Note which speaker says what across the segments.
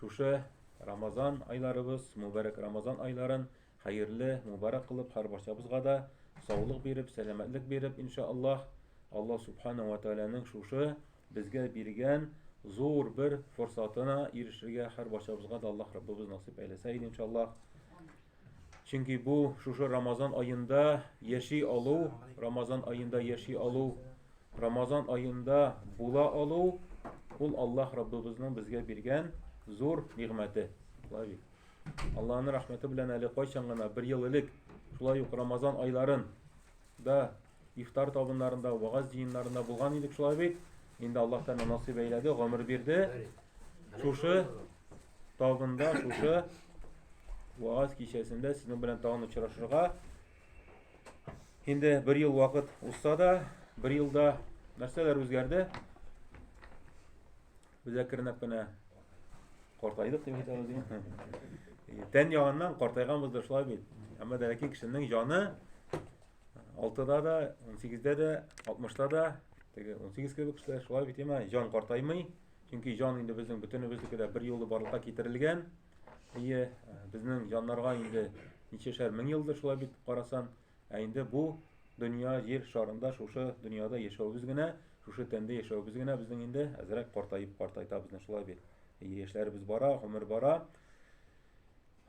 Speaker 1: Шушы Рамазан айларыбыз, мубарәк Рамазан айларын хәерле, мубарәк кылып, һәр барчабызга да саулык биреп, сәламәтлек биреп, иншааллаһ, Аллаһ субхана ва тааляның шушы безгә биргән зур бер форсатына ирешергә һәр барчабызга да Аллаһ Раббыбыз насыйп әйләсә иде, иншааллаһ. Чөнки бу шушы Рамазан аенда яши алу, Рамазан аенда яши алу, Рамазан аенда була алу ул Аллаһ Раббыбызның безгә биргән зур нигъмәте. Лави. Аллаһның рәхмәте белән әле кайчан гына бер ел элек шулай ук Рамазан айларын да Ифтар табыннарында, вагаз җыеннарында булган идек шулай бит. Инде Аллаһ Тәгалә насыйп әйләде, гомер бирде. Шушы табында, шушы вагаз кичәсендә сезнең белән тагын очрашырга. Инде бер ел вакыт узса да, бер елда нәрсәләр үзгәрде? Без әкренләп кенә картайдык дип әйтәбез. Тән ягыннан картайганбыз да шулай бит. Әмма дә ләкин кешенең җаны Алтыда да, унсигездә дә, алтмышта да, теге унсигез кебек кешеләр шулай бит имә, җан картаймый. Чөнки җан инде безнең бөтенебезнеке дә бер юлы барлыкка китерелгән. Ие, безнең җаннарга инде ничәшәр мең елдыр шулай бит карасан, ә инде бу дөнья җир шарында шушы дөньяда яшәвебез генә, шушы тәндә яшәвебез генә безнең инде әзрәк картаеп картайта безне шулай бит. Яшьләребез бара, гомер бара.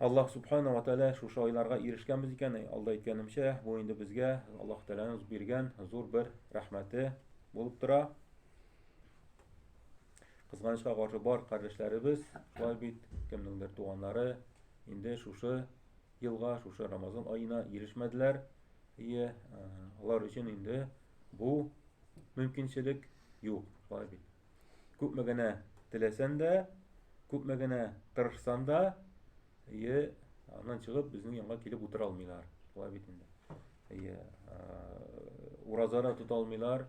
Speaker 1: Аллаһ субхана ва тәала шушы айларга ирешкәнбез икән, алда әйткәнемчә, бу инде безгә Аллаһ тәаланың биргән зур бер рәхмәте булып тора. Кызганычка каршы бар кардәшләребез, шулай бит, кемнеңдер туганнары инде шушы елга, шушы Рамазан аена ирешмәделәр. И алар өчен инде бу мөмкинчелек юк, шулай бит. Күпме генә теләсән дә, күпме генә тырышсан да, әйе, аннан чыгып безнең янга килеп утыра алмыйлар. Шулай бит инде. Әйе, ураза да тота алмыйлар,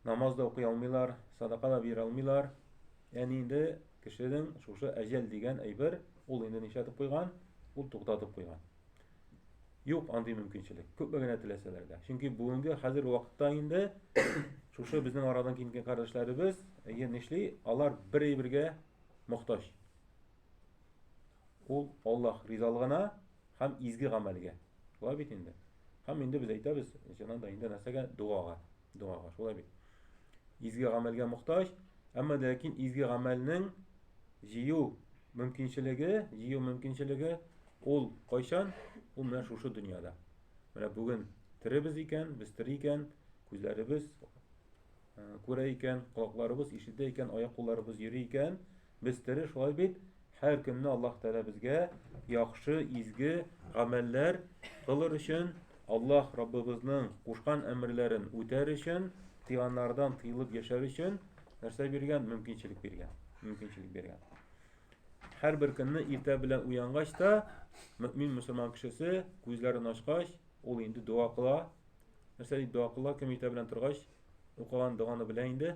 Speaker 1: намаз да укый алмыйлар, садака да бирә алмыйлар. Яни инде кешенең шушы әҗәл дигән әйбер, ул инде нишләтеп куйган, ул туктатып куйган. Юк андый мөмкинчелек. Күпме генә теләсәләр дә. Чөнки бүгенге хәзер вакытта инде шушы безнең арадан килгән кардәшләребез, әйе, нишли, алар бер әйбергә мохтаҗ. Ул Аллаһ ризалыгына һәм изге гамәлгә. Шулай бит инде. Һәм инде без әйтәбез, чыннан да инде нәрсәгә? Дуага. Догага, шулай бит. Изге гамәлгә мохтаҗ, әмма ләкин изге гамәлнең җыю мөмкинчелеге, җыю мөмкинчелеге ул кайчан? Ул менә шушы дөньяда. Менә бүген теребез икән, без тере икән, күзләребез күрә икән, колакларыбыз ишетә икән, аяк-кулларыбыз йөри икән, Без тере шулай бит, һәр көнне Аллаһ Тәгалә безгә яхшы, изге гамәлләр кылыр өчен, Аллаһ Раббыбызның кушкан әмерләрен үтәр өчен, тыйганнардан тыелып яшәр өчен нәрсә биргән? Мөмкинчелек биргән. Мөмкинчелек биргән. Һәр бер көнне иртә белән уянгач та, мөмин мусульман кешесе күзләрен ачкач, ул инде дога кыла. Нәрсә дип дога кыла? Кем иртә белән торгач, укыган доганы белә инде.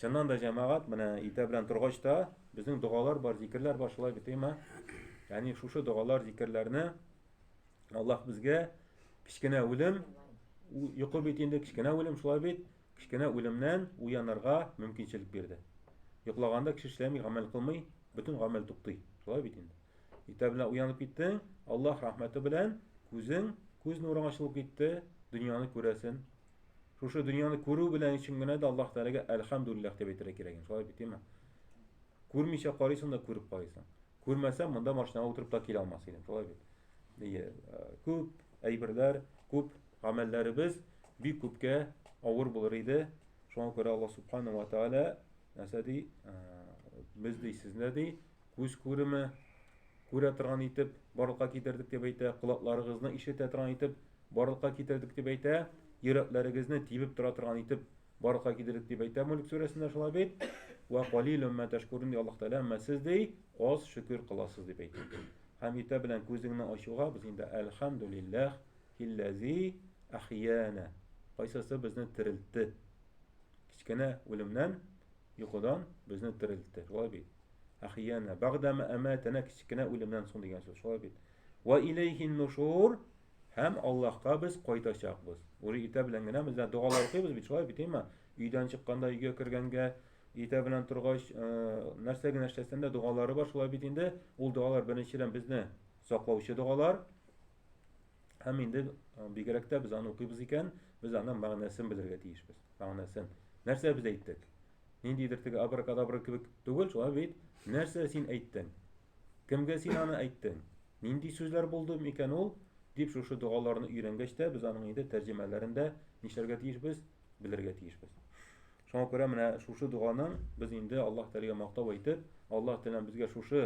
Speaker 1: Чыннан да җәмәгать менә иртә белән торгач та безнең догалар бар, зикерләр бар, шулай бит, әйме? Ягъни шушы догалар, зикерләрне Аллаһ безгә кечкенә үлем, йокы бит инде кечкенә үлем, шулай бит, кечкенә үлемнән уянырга мөмкинчелек бирде. Йоклаганда кеше эшләми, гамәл кылмый, бөтен гамәл туктый. Шулай бит инде. Иртә белән уянып киттең, Аллаһ рәхмәте белән күзең, күз нурың ачылып китте, дөньяны күрәсен, Шушы дөньяны күрү белән өчен генә дә Аллаһ Тәгаләгә әлхәмдүлилләһ дип әйтергә кирәк инде. Шулай бит, димме? Күрмичә карыйсың да күреп карыйсың. Күрмәсәм, монда машинага утырып та килә алмас идем. Шулай бит. Ие, күп әйберләр, күп гамәлләребез бик күпкә авыр булыр иде. Шуңа күрә Аллаһ Субхану ва Тәгалә нәрсә ди? Без ди, сезне ди, күз күреме, Күрә торган итеп, барлыкка китердек дип әйтә, колакларыгызны ишетә торган итеп, барлыкка китердек дип әйтә, йөрәкләрегезне тибеп тора торган итеп, барлыкка китердек дип әйтә Мөлек сүрәсендә шулай бит. Вә калилум мә тәшкүрүн ди Аллаһ Тәгалә, әмма сез ди аз шөкер кыласыз дип әйтә. Һәм иртә белән күзеңне ачуга без инде әлхәмдүлилләһ һилләзи әхиянә, кайсысы безне терелтте, кечкенә үлемнән Йокыдан безне терелтте. Шулай бит. Ахияна багдама аматана кечкенә үлемнән соң дигән сүз. Шулай бит. Ва илейхин нушур һәм Аллаһка без кайтачакбыз. Уже иртә белән генә без догалар укыйбыз бит, шулай бит, әйме? Өйдән чыкканда, өйгә кергәнгә, иртә белән торгач, э, нәрсә генә эшләсәң дә догалары бар, шулай бит инде. Ул догалар беренчедән безне саклаучы догалар. Һәм инде бигрәк тә без аны укыйбыз икән, без аның мәгънәсен белергә тиешбез. Мәгънәсен. Нәрсә без әйттек? Ниндидер теге абракадабра кебек түгел, шулай бит? Нәрсә син әйттең? Кемгә син аны әйттең? Нинди сүзләр булды микән ул? Дип шушы догаларны өйрәнгәч тә без аның инде тәрҗемәләрен дә нишләргә тиешбез? Белергә тиешбез. Шуңа күрә менә шушы доганың без инде Аллаһ Тәгаләгә мактау әйтеп, Аллаһ Тәгалә безгә шушы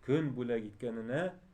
Speaker 1: көн бүләк иткәненә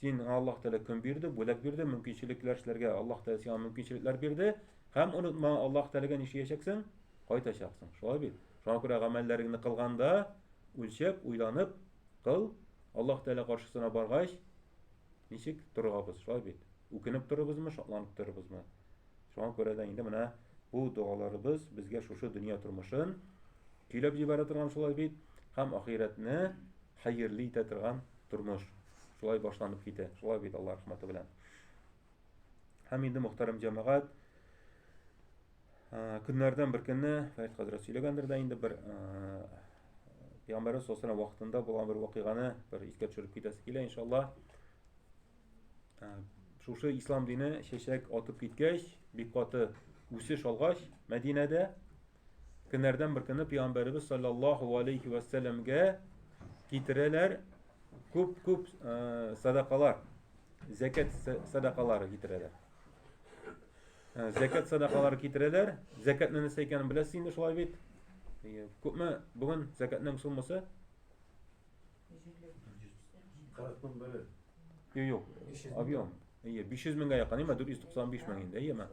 Speaker 1: Син Аллаһ Тәгалә көн бирде, бүләк бирде, мөмкинчелекләр эшләргә Аллаһ Тәгалә сиңа мөмкинчелекләр бирде. Һәм онытма, Аллаһ Тәгаләгә нишләячәксең? Кайтачаксың. Шулай бит. Шуңа күрә гамәлләреңне кылганда, үлчәп, уйланып кыл. Аллаһ Тәгалә каршысына баргач, ничек торабыз? Шулай бит. Үкенеп торабызмы, шатланып торабызмы? Шуңа күрә дә инде менә бу дуаларыбыз безгә шушы дөнья тормышын көйләп җибәрә торган шулай бит. Һәм ахирәтне Хәерле итә торган тормыш шулай башланып китә. Шулай бит Алла рәхмәте белән. Һәм инде мөхтәрәм җәмәгать, көннәрдән бер көнне Фәрит хәзрәт сөйләгәндер дә инде бер Пәйгамбәрбез сосына вакытында булган бер вакыйганы бер искә төшереп китәсе килә иншалла. Шушы ислам дине чәчәк атып киткәч, бик каты үсеш алгач, Мәдинәдә Көннәрдән бер көне пәйгамбәребез саллаллаху алейхи ва сәлләмгә китерәләр күп-күп э, садакалар, зәкәт садакалары китерәләр. Э, зәкәт садакалары китерәләр. Зәкәтне нәрсә икәнен беләсез инде шулай бит. Күпме бүген зәкәтнең суммасы? 40
Speaker 2: мең бөлі. Йо, йо,
Speaker 1: объем. Ие, 500 меңгә якын, име, 495 мең инде, иеме?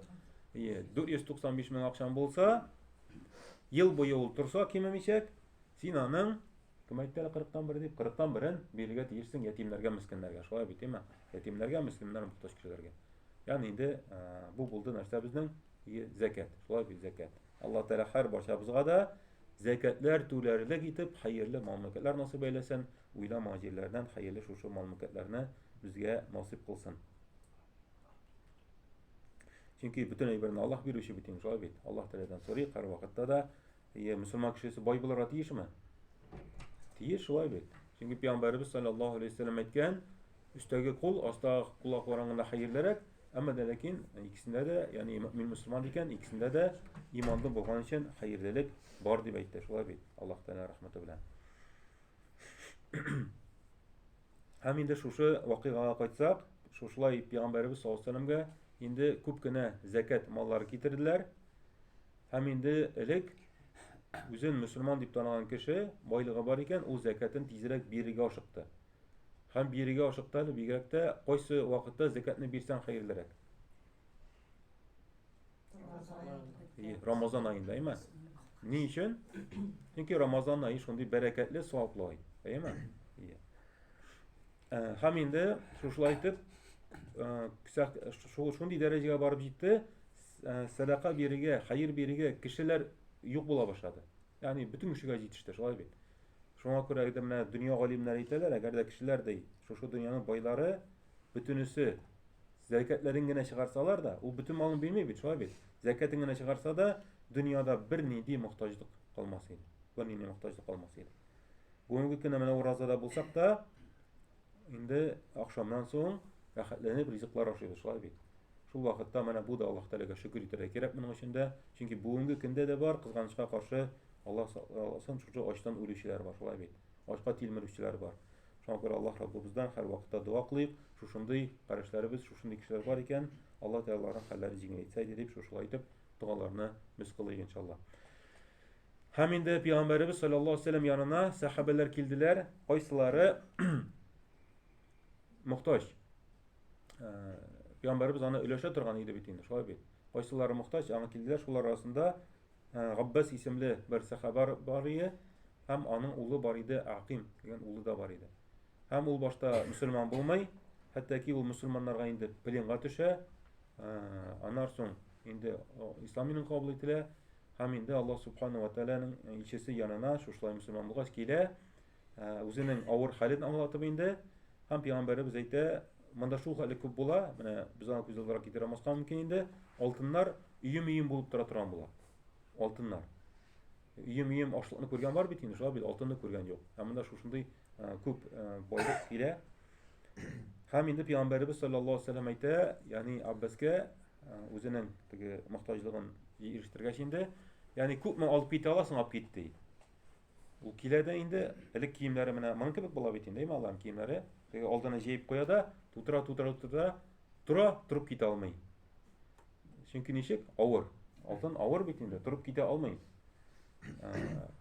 Speaker 1: Ие, 495 мең акчам булса, ел буе ул торса кимемичәк, син аның, кем әйтте әле 40 тан бер дип, 40 тан берен бирергә тиешсең ятимнәргә, мескеннәргә, шулай бит, име? Ятимнәргә, мескеннәр, мохтаҗ кешеләргә. Ягъни инде бу булды нәрсә безнең? и зәкәт. Шулай бит зәкәт. Алла Тәгалә һәр барчабызга да зәкәтләр түләрлек итеп хәерле мал-мөлкәтләр насыйп әйләсен, уйламаган җирләрдән хәерле шушы мал-мөлкәтләрне безгә насыйп кылсын. Чөнки бөтен әйберне Аллаһ бирүче бит инде, шулай бит. Аллаһ Тәгаләдән сорыйк һәр вакытта да. Әйе, мөселман кешесе бай булырга тиешме? Тиеш шулай бит. Чөнки пәйгамбәребез саллаллаһу алейһи вәсәлләм әйткән, өстәге кул, астагы кул акылардан гына хәерлерәк, әмма дә ләкин икесендә дә, ягъни мин мөселман икән, икесендә дә иманлы булган өчен хәерлелек бар дип әйтте. Шулай бит. Аллаһ Тәгалә рәхмәте белән. Һәм инде шушы вакыйгага кайтсак, шушылай пигамбәребез саллаллаһу алейһи инде күп кенә зәкәт маллары китерделәр. Һәм инде элек үзен мөселман дип танаган кеше байлыгы бар икән, ул зәкәтен тизрәк бирергә ашыкты. Һәм бирергә ашыкты әле бигрәк тә кайсы вакытта зәкәтне бирсәң хәерлерәк. Рамазан айында, әйме? Ни өчен? Чөнки Рамазан ае шундый бәрәкәтле, саваплы ай, әйме? Э, һәм инде шушылай итеп, э, шундый дәрәҗәгә барып җитте, э, сәдака бирергә, хәер бирергә кешеләр юк була башлады. Ягъни бөтен кешегә җитеште, шулай бит. Шуңа күрә дә менә дөнья галимнәре әйтәләр, әгәр дә кешеләр ди, шушы дөньяның байлары бөтенесе зәкәтләрен генә чыгарсалар да, ул бөтен малын бирми бит, шулай бит. Зәкәтен генә чыгарса да, дөньяда бер нинди мохтаҗлык калмас иде. Бер нинди мохтаҗлык калмас иде. Бүгенге көндә менә уразада булсак та, инде ахшамнан соң рәхәтләнеп ризыклар ашыйбыз, шулай бит. Шул вакытта менә бу да Аллаһ Тәгаләгә шөкер итәргә кирәк моның өчен дә, чөнки бүгенге көндә дә бар, кызганычка каршы Аллаһ сакласын, шушы ачтан үлүчеләр бар, шулай бит. Ачка тилмерүчеләр бар. Шуңа күрә Аллаһ Раббыбыздан һәрвакытта дога кылыйк, шушындый карәшләребез, шушындый кешеләр бар икән, Аллаһ Тәгалә аларның хәлләрен җиңеләйтсә иде дип, шушылай итеп догаларны без кылыйк иншалла. Һәм инде пәйгамбәребез саллаллаһу алейһи вәсәлләм янына сәхабәләр килделәр, кайсылары мохтаҗ. Э, пәйгамбәребез аны өләшә торган иде бит инде, шулай бит. Кайсылары мохтаҗ, аңа килделәр, шулар арасында Габбас исемле бер сахаба бар иде һәм аның улы бар иде Аким дигән улы да бар иде. Һәм ул башта мусульман булмый, хәтта ки ул мусульманнарга инде пленга төшә. Аннан соң инде ислам динен кабул ителә һәм инде Аллаһ субхану ва тааляның илчесе янына шушылай мусульман булгач килә Ә, үзенең авыр хәлен аңлатып инде, һәм пәйгамбәребез әйтә, монда шул хәле күп була, менә без аны күз алдына китерә алмаска мөмкин инде, алтыннар өем-өем булып тора торган була. Алтыннар. Өем-өем ашлыкны күргән бар бит инде, шулай бит алтынны күргән юк. Һәм монда шушындый ә, күп ә, байлык килә. Һәм инде пәйгамбәребез саллаллаһу алейһи ва саллям әйтә, ягъни Аббаскә ә, үзенең теге мохтаҗлыгын ирештергәч инде, ягъни күпме алып китә аласың, алып кит ди. Ул килә дә инде, элек киемнәре менә моның кебек була бит инде, әйме аларның киемнәре. Теге алдына җәеп куя да, тутыра, тутыра, тутыра, тора, торып китә алмый. Чөнки ничек? Авыр. Алтын авыр бит инде, торып китә алмый.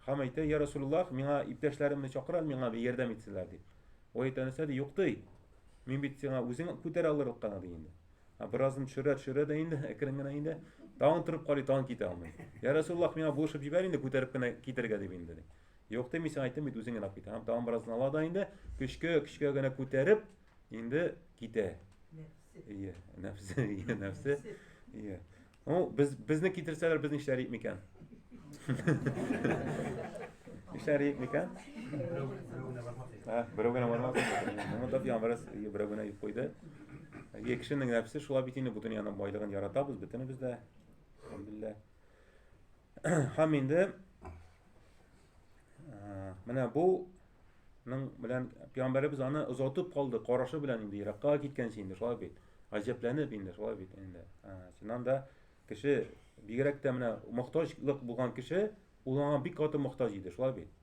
Speaker 1: Хам әйтә, я Расулуллах, миңа иптәшләремне чакырал, миңа бер ярдәм итсенләр дип. Ой әйтә нәрсә ди, юк ди. Мин бит сиңа үзең күтәрә алырлык кына ди инде. Беразын төшерә, төшерә дә инде, әкрен генә инде. Тагын торып карый, тагын китә алмый. Я Расуллах, миңа булышып җибәр инде, күтәреп кенә китергә дип инде. ди. Юк ди, мин сиңа әйттем бит, үзең генә кит. Һәм тагын беразын ала да инде, көчкә, көчкә генә күтәреп, инде китә. Ие, нәфсе, ие, нәфсе. Ие. Ну, без, безне китерсәләр, без нишләр идек микән? Нишләр идек микән? Ә, берәү генә бармас. Моны да ямрас берәү генә юк куйды. Әгәр кешенең нәфсе шулай бит инде бүтән яна байлыгын яратабыз бөтенебез дә. Алхамдулилла. Һәм инде менә бу Ның белән пәйгамбәребез аны озатып калды, карашы белән инде еракка киткәнче инде шулай бит. Гаҗәпләнеп инде шулай бит инде. Чыннан да кеше бигрәк тә менә мохтаҗлык булган кеше ул аңа бик каты мохтаҗ иде, шулай бит.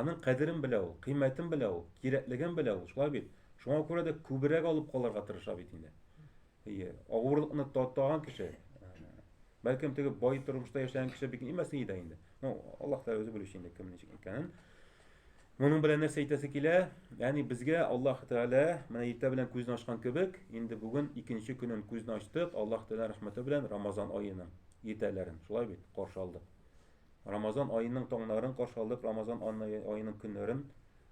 Speaker 1: Аның кадерен белә ул, кыйммәтен белә ул, кирәклеген белә ул, шулай бит. Шуңа күрә дә күбрәк алып калырга тырыша бит инде. Әйе, авырлыкны татаган кеше, бәлкем теге бай тормышта яшәгән кеше бик нимәсен иде инде. Ну, Аллаһ Тәгалә үзе белүче инде кем ничек икәнен. Моның белән нәрсә әйтәсе килә? Ягъни безгә Аллаһ Тәгалә менә иртә белән күзен ачкан кебек, инде бүген икенче көнен күзен ачтык, Аллаһ Тәгалә рәхмәте белән Рамазан аеның иртәләрен, шулай бит, каршы алдык. Рамазан аеның таңнарын каршы алдык, Рамазан аеның көннәрен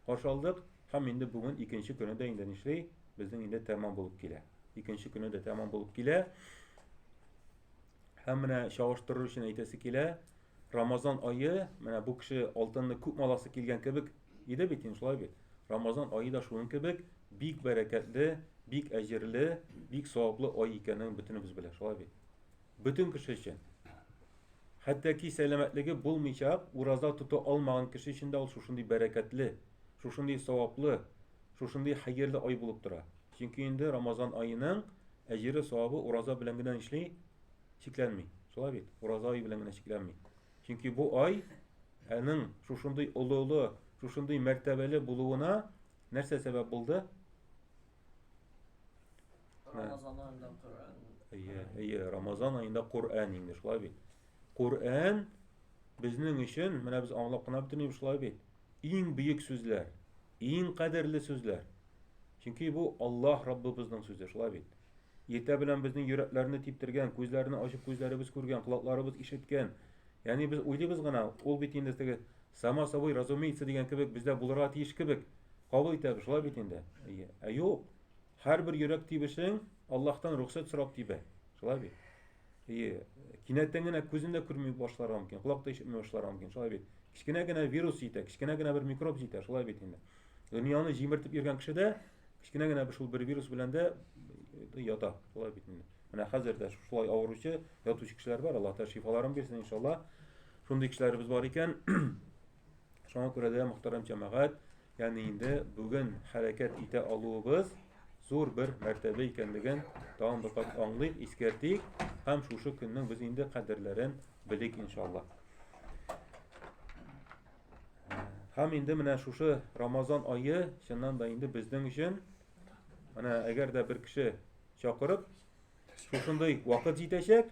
Speaker 1: Каршы алдык һәм инде бүген икенче көне дә инде нишли, безнең инде тәмам булып килә. Икенче көне дә тәмам булып килә. Һәм менә чагыштырыр өчен әйтәсе килә, Рамазан айы, менә бу кеше алтынны күп маласы килгән кебек иде бит, шулай бит. Рамазан айы да шуның кебек бик бәрәкәтле, бик әҗерле, бик саваплы ай икәнен бөтенебез белә, шулай бит. Бөтен кеше өчен. Хәтта ки сәламәтлеге булмыйча ураза тота алмаган кеше өчен дә ул шушындый бәрәкәтле, шушындый саваплы, шушындый хәерле ай булып тора. Чөнки инде Рамазан аеның әҗере, савабы ураза белән генә нишли? Чикләнми. Шулай бит? Ураза ае белән генә чикләнми. Чөнки бу ай аның шушындый олы-олы, шушындый мәртәбәле булуына нәрсә сәбәп булды?
Speaker 3: Рамазан айында
Speaker 1: Коръән. Әйе, әйе, Рамазан айында Коръән инде шулай бит. Коръән безнең өчен, менә без аңлап кына бетермибез шулай бит. Иң бөек сүзләр, иң кадерле сүзләр. Чөнки бу Аллаһ Раббыбызның сүзе шулай бит. Иртә белән безнең йөрәкләрне типтергән, күзләрне ачып күзләребез күргән, колакларыбыз ишеткән, Ягъни без уйлыйбыз гына, ул бит инде теге само собой разумеется дигән кебек бездә булырга тиеш кебек кабул итәбез, шулай бит инде. Ә юк. Һәрбер йөрәк тибешең Аллаһтан рөхсәт сорап тибә. Шулай бит. И кинәттән генә күзен дә күрми башларга мөмкин, колак та ишетми башларга мөмкин. Шулай бит. Кечкенә генә вирус җитә, кечкенә генә бер микроб җитә, шулай бит инде. Дөньяны җимертеп йөргән кеше дә кечкенә генә шул бер вирус белән дә ята. Шулай бит инде. Менә хәзер дә шушылай авыручы, ятучы кешеләр бар, Аллаһ Тәгалә шифаларын бирсен иншаллаһ. Шундый кешеләребез бар икән. Шуңа күрә дә мөхтәрәм җәмәгать, ягъни инде бүген хәрәкәт итә алуыбыз зур бер мәртәбә икәнлеген тагын бер кат аңлыйк, искәртик һәм шушы көннең без инде кадерләрен белик иншаллаһ. Һәм инде менә шушы Рамазан айы чыннан да инде безнең өчен менә әгәр дә бер кеше чакырып, шушындый вакыт җитәчәк,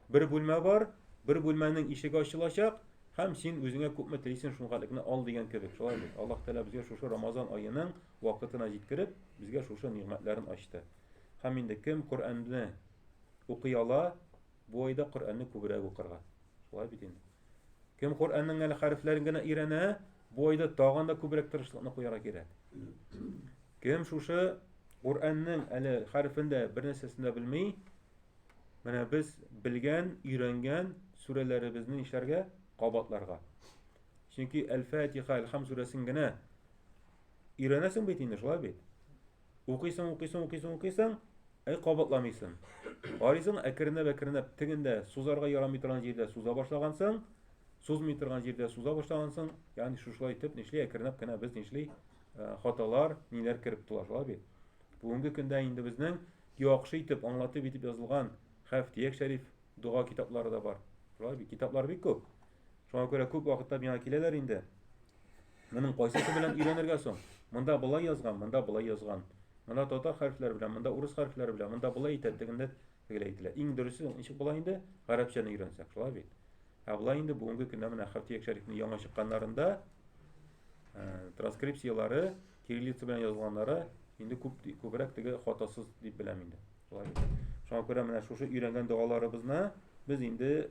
Speaker 1: бер бүлмә бар, бер бүлмәнең ишеге ачылачак, һәм син үзеңә күпме телисен шуңа лекне ал дигән кебек. Шулай бит. Аллаһ Тәгалә безгә шушы Рамазан аеның вакытына җиткереп, безгә шушы нигъмәтләрен ачты. Һәм инде кем Коръәнне укый ала, Бу айда Коръәнне күбрәк укырга. Шулай бит инде. Кем Коръәннең әле хәрефләрен генә өйрәнә, бу айда тагын да күбрәк тырышлыкны куярга кирәк. Кем шушы Коръәннең әле хәрефен дә бер нәрсәсен дә белми, менә без белгән, өйрәнгән сүрәләребезне нишләргә? Кабатларга. Чөнки Әл-Фатиха, Әл-Хам сүрәсен генә өйрәнәсең бит инде, шулай бит? Укыйсың, укыйсың, укыйсың, укыйсың, әй кабатламыйсың. Арыйсың, әкренләп-әкренләп тегендә сузарга ярамый торган җирдә суза башлагансың, сузмый торган җирдә суза башлагансың, ягъни шушылай итеп нишли әкренләп кенә без нишли э, хаталар, ниләр кереп тула шулай бит. Бүгенге көндә инде безнең яхшы итеп аңлатып итеп язылган Хәфтияк шәриф дога китаплары да бар. Шулай бит, китаплар бик күп. Шуңа күрә күп вакытта миңа киләләр инде. Моның кайсысы белән өйрәнергә соң? Монда болай язган, монда болай язган. Монда татар хәрефләре белән, монда урыс хәрефләре белән, монда болай әйтә, тегендә тегеләй әйтелә. Иң дөресе ничек була инде? Гарәпчәне өйрәнсәк, шулай бит. Ә болай инде бүгенге көндә менә Хәфтия Шәрифнең яңа чыкканнарында э, транскрипцияләре, кириллица белән язылганнары инде күп күбрәк теге хатасыз дип беләм инде. Шулай бит. Шуңа күрә менә шушы өйрәнгән догаларыбызны без инде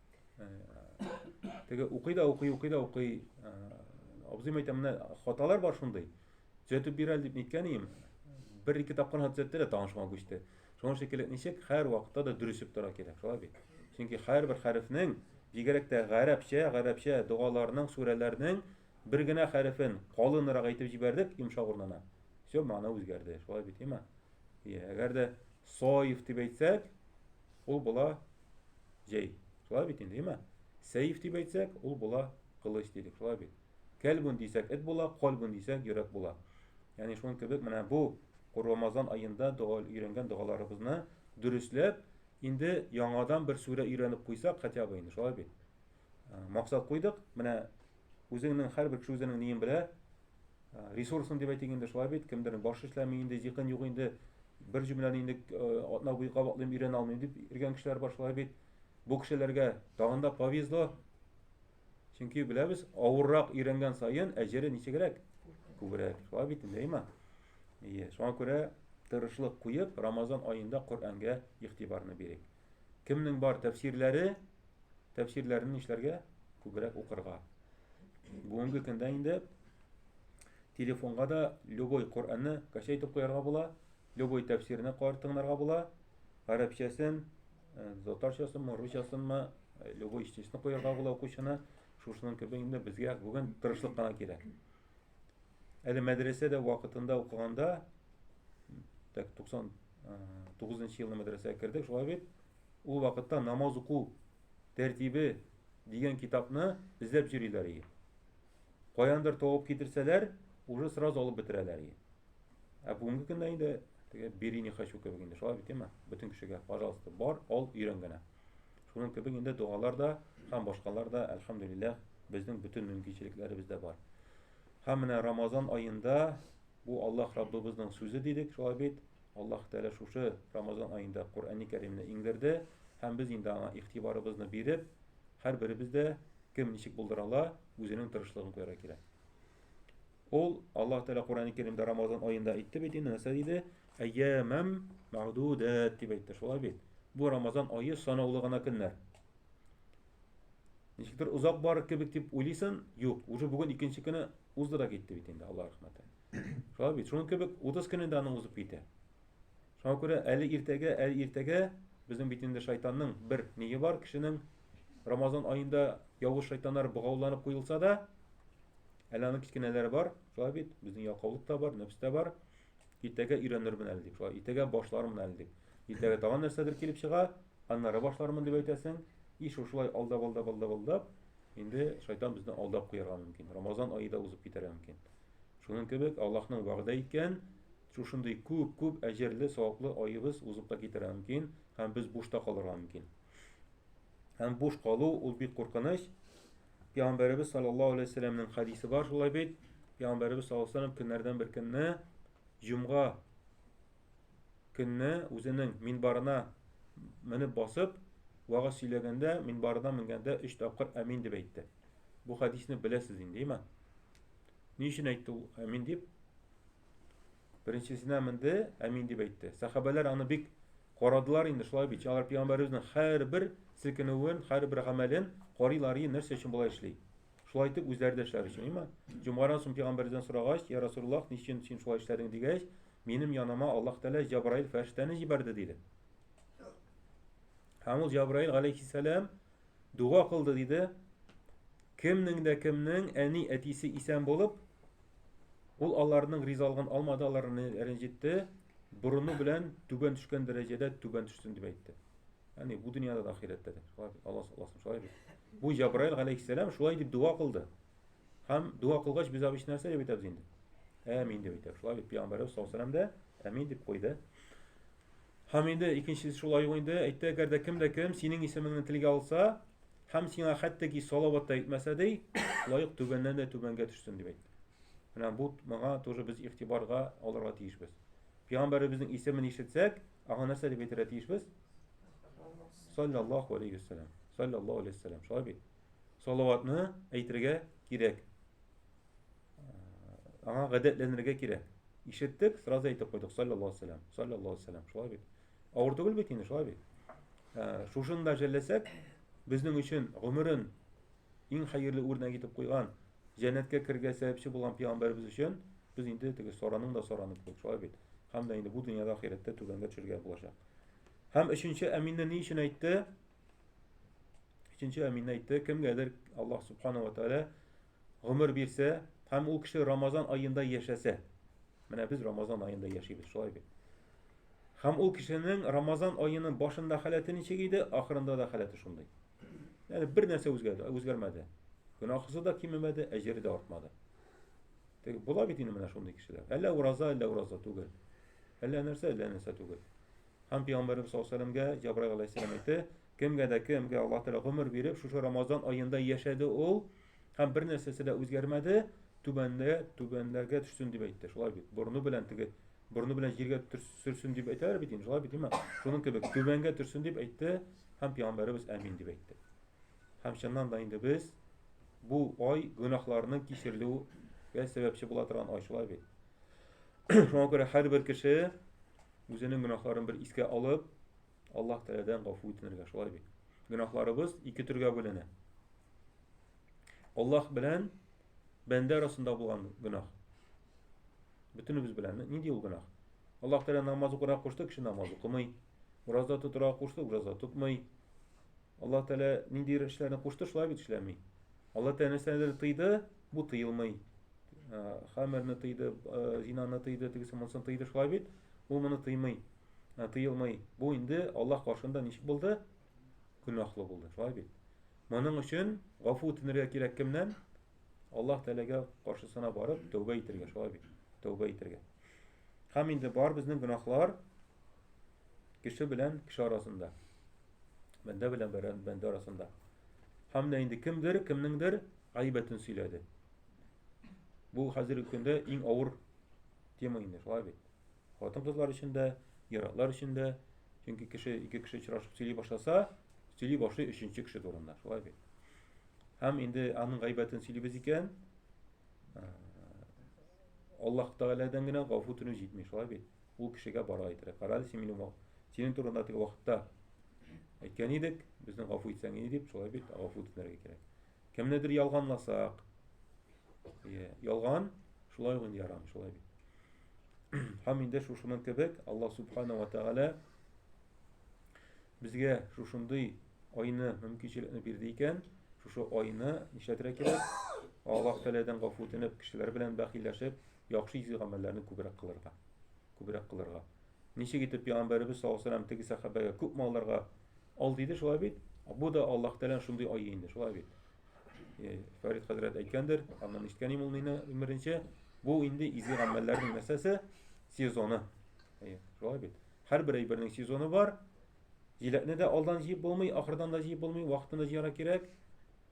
Speaker 1: теге укый да укый укый да укый абзыйм әйтә менә хаталар бар шундый төзәтеп бир әле дип ниткән идем бер ике тапкыр гына төзәтте дә тагын шуңа күчте шуның өчен кирәк ничек һәр вакытта да дөрес итеп тора кирәк шулай бит чөнки һәрбер хәрефнең бигрәк тә гарәпчә гарәпчә догаларның сүрәләрнең бер генә хәрефен калынрак әйтеп җибәрдек йомшак урынына все мана үзгәрде шулай бит әмма әгәр дә соев дип әйтсәк ул була Җәй. Шулай бит инде, юме? Сәйф дип әйтсәк, ул була кылыч дидек, шулай бит. Кәлбүн дисәк, эт була, кальбүн дисәк, йөрәк була. Ягъни шуның кебек менә бу Рамазан аенда дога өйрәнгән догаларыбызны дөресләп, инде яңадан бер сүрә өйрәнеп куйсак, хотя бы инде, шулай бит. максат куйдык. Менә үзеңнең һәрбер кеше үзенең ниен белә. Ресурсын дип әйтик инде шулай бит, кемдер баш эшләми инде, зиһен юк инде, бер җөмләне инде атна буе кабатлыйм, өйрәнә алмыйм дип иргән кешеләр бар шулай бит. Бу кешеләргә тагын да повезло. Чөнки беләбез, авыррак өйрәнгән саен әҗере ничегрәк? Күбрәк. Шулай бит инде, әйма. Ие, шуңа күрә тырышлык куеп, Рамазан аенда Коръәнгә игътибарны бирик. Кемнең бар тәфсирләре, тәфсирләрен нишләргә? Күбрәк укырга. Бүгенге көндә инде телефонга да любой Коръәнне кача итеп куярга була, любой тәфсирне кар тыңларга була, гарәпчәсен, э, татарчасын, русчасын ма, э, любой ичтисне куярга була укучыны. Шушының кебек инде безгә бүген тырышлык кына кирәк. Әле мәдрәсәдә вакытында укыганда, так 99 нчы елны мәдрәсәгә кердек, шулай бит. Ул вакытта намаз уку тәртибе дигән китапны эзләп йөриләр иде. Каяндыр тавып китерсәләр, уже сразу алып бетерәләр иде. Ә бүгенге көндә инде теге бери не хочу кебек инде. Шулай бит, әйме? Бөтен кешегә, пожалуйста, бар, ал, өйрән генә. Шуның кебек инде догалар да һәм башкалар да, әлхәмдүлилләһ, безнең бөтен мөмкинчелекләребез дә бар. Һәм менә Рамазан аенда бу Аллаһ Раббыбызның сүзе дидек, шулай бит? Аллаһ Тәгалә шушы Рамазан аенда Коръәни Кәримне иңдерде һәм без инде аңа игътибарыбызны биреп, һәрберебез дә кем ничек булдыра ала, үзенең тырышлыгын куярга кирәк. Ул Аллаһ Тәгалә Коръән Кәримдә Рамазан аенда әйтте бит инде, нәрсә диде? Әйямам мәгъдудат дип әйтте, шулай бит. Бу Рамазан ае санаулы гына көннәр. Ничектер озак бар кебек дип уйлыйсың, юк, уже бүген икенче көне узды да китте бит инде, Аллаһ рәхмәте. Шулай бит, шуның кебек 30 көне дә аның узып китә. Шуңа күрә әле иртәгә, әле иртәгә безнең бит инде шайтанның бер ние бар кешенең Рамазан аенда явыз шайтаннар богауланып куелса да, әле аның кечкенәләре бар, шулай бит, безнең ялкаулык та бар, нәпс тә бар. Иртәгә өйрәнермен әле дип, шулай, иртәгә башлармын әле дип. Иртәгә тагын нәрсәдер килеп чыга, аннары башлармын дип әйтәсең. И шушылай алдап, алдап, алдап, алдап, инде шайтан безне алдап куярга мөмкин. Рамазан ае да узып китәргә мөмкин. Шуның кебек Аллаһның вәгъдә иткән шушындый күп-күп әҗерле, саваплы аебыз узып та китәргә мөмкин һәм без бушта калырга мөмкин. Һәм буш калу ул бик куркыныч. Пәйгамбәребез саллаллаһу алейһи вәсәлләмнең хадисе бар шулай бит. Пәйгамбәребез саллаллаһу алейһи вәсәлләм көннәрдән бер көнне җомга көнне үзенең минбарына менеп басып вагаз сөйләгәндә минбарына менгәндә өч тапкыр әмин дип әйтте. Бу хадисны беләсез инде, иман. Ни өчен әйтте ул әмин дип? Беренчесенә менде, әмин дип әйтте. Сәхабәләр аны бик карадылар инде, шулай бит. Алар пәйгамбәребезнең һәрбер селкенүен, һәрбер гамәлен карыйлар, и нәрсә өчен болай эшли? Шулай итеп үзләре дә эшләр өчен, имма. Җомгадан соң пәйгамбәрдән сорагач, я Расулуллах, ни өчен син шулай эшләдең дигәч, минем яныма Аллаһ Тәгалә Җабраил фәрештәне җибәрде диде. Һәм ул Җабраил галәйһиссәлам Дуга кылды, диде. Кемнең дә кемнең әни әтисе исән булып, ул аларның ризалыгын алмады, аларны рәнҗетте, борыны белән түбән төшкән дәрәҗәдә түбән төшсен дип әйтте. Яни бу дөньяда да ахирәттә дә. Шулай бит, Аллаһ саллаһу шулай бит. Бу Җабраил галәйһиссәлам шулай дип дуа кылды. Һәм дуа кылгач без абыч нәрсә дип әйтәбез инде? Әмин дип әйтәбез. Шулай бит, пәйгамбәребез саллаһу алейһи дә әмин дип куйды. Һәм инде икенчесе шулай ул инде әйтте, әгәр дә кем дә кем синең исемеңне телгә алса, һәм сиңа хәтта ки салават та әйтмәсә ди, лаек түбәннән дә түбәнгә төшсен дип әйтте. Менә бу моңа тоже без игътибарга алырга тиешбез. Пәйгамбәребезнең исемен ишетсәк, аңа нәрсә дип әйтергә тиешбез? Саллаллаху алейхи вассалам. Саллаллаху алейхи вассалам. Шулай бит. салаватны әйтергә кирәк. Аңа гадәтләнергә кирәк. Ишеттек, сразу әйтеп куйдык, саллаллаху алейхи вассалам, саллаллаху алейхи вассалам, шулай бит. Авыр түгел бит инде, шулай бит. Ә, шушын да жәлләсәк, безнең өчен гомерен иң хәерле үрнәк итеп куйган, җәннәткә кергә сәбәпче булган пәйгамбәребез өчен без инде теге сораның да сораны кебек, шулай бит. Һәм дә инде бу дөньяда ахирәттә түбәнгә төшергә булачак. Һәм өченче әминне ни өчен әйтте? Өченче әмин әйтте, кемгәдер Аллаһ субхана ва тәгалә гомер бирсә һәм ул кеше Рамазан аенда яшәсә. Менә без Рамазан аенда яшибез, шулай бит. Һәм ул кешенең Рамазан аеның башында халәте ничек иде, ахырында да халәте шундый. Ягъни бер нәрсә үзгәрде, үзгәрмәде. Гөнаһысы да кимемәде, әҗере дә артмады. Тик була бит инде менә шундый кешеләр. Әллә ураза, әллә ураза түгел. Әллә нәрсә, әллә нәрсә түгел. Һәм пәйгамбәребез саллаллаһу алейһи ва сәлләмгә Җабраил алейһиссәлам әйтте, кемгә дә кемгә Аллаһ Тәгалә гомер биреп, шушы Рамазан аенда яшәде ул һәм бер нәрсәсе дә үзгәрмәде, түбәндә түбәнләргә төшсен дип әйтте. Шулай бит. Борны белән теге борны белән җиргә сөрсен дип әйтәләр бит инде. Шулай бит, димә. Шуның кебек түбәнгә төрсен дип әйтте һәм пәйгамбәребез әмин дип әйтте. Һәм чыннан да инде без бу ай гөнаһларның кичерелүгә сәбәпче була торган ай шулай бит. Шуңа күрә һәрбер кеше Үзенең гөнаһларын бер искә алып, Аллаһ Тәгаләдән гафу үтенергә, шулай бит. Гөнаһларыбыз ике төргә бүленә. Аллаһ белән бәндә арасында булган гөнаһ. Бөтенебез белән нинди ул гөнаһ? Аллаһ Тәгалә намаз укырга кушты, кеше намаз укымый. Ураза тотырга кушты, ураза тотмый. Аллаһ Тәгалә ниндидер эшләрне кушты, шулай бит эшләми. Аллаһ Тәгалә нәрсәләрне тыйды, бу тыелмый. Хамерны тыйды, зинаны тыйды, тегесе монысын тыйды, шулай бит. Бу моны тыймый, тыелмый. Бу инде Аллаһ каршында ничек булды? Гөнаһлы булды, шулай бит. Моның өчен гафу үтенергә кирәк кемнән? Аллаһ Тәгаләгә каршысына барып, тәүбә итәргә, шулай бит. Тәүбә итәргә. Һәм инде бар безнең гөнаһлар Кеше белән кеше арасында. Бәндә белән бәндә арасында. Һәм дә инде кемдер, кемнеңдер гайбәтен сөйләде. Бу хәзерге көндә иң авыр тема инде, шулай бит. Хатын-кызлар өчен дә, ир-атлар өчен дә, чөнки кеше ике кеше очрашып сөйли башласа, сөйли башлый өченче кеше турында, шулай бит. Һәм инде аның гайбәтен сөйлибез икән, Аллаһ Тәгаләдән генә гафу үтенү җитми, шулай бит. Ул кешегә бара әйтергә. Карады син минем синең турында теге вакытта әйткән идек, безнең гафу итсәң иде дип, шулай бит, гафу үтенергә кирәк. Кемнедер ялганласак, иә, ялган шулай гын ярам, шулай бит. Һәм инде шушының кебек Аллаһ субхана ва тәгалә безгә шушындый айны мөмкинчелекне бирде икән, шушы айны нишләтергә кирәк? Аллаһ тәгаләдән гафу үтенеп, кешеләр белән бәхилләшеп, Яхшы изге гамәлләрне күбрәк кылырга. Күбрәк кылырга. Ничек итеп Пәйгамбәребез саллаллаһу алейһи теге сәхабәгә күп малларга ал диде, шулай бит? Бу да Аллаһ Тәгаләнең шундый ае инде, шулай бит? Э, Фәрид хәзрәт әйткәндер, аннан ишеткән имул мине беренче, бу инде изге гамәлләрнең нәрсәсе? Сезоны. Әйе, шулай бит. Һәрбер әйбернең сезоны бар. Җиләкне дә алдан җыеп булмый, ахырдан да җыеп булмый, вакытында җыярга кирәк.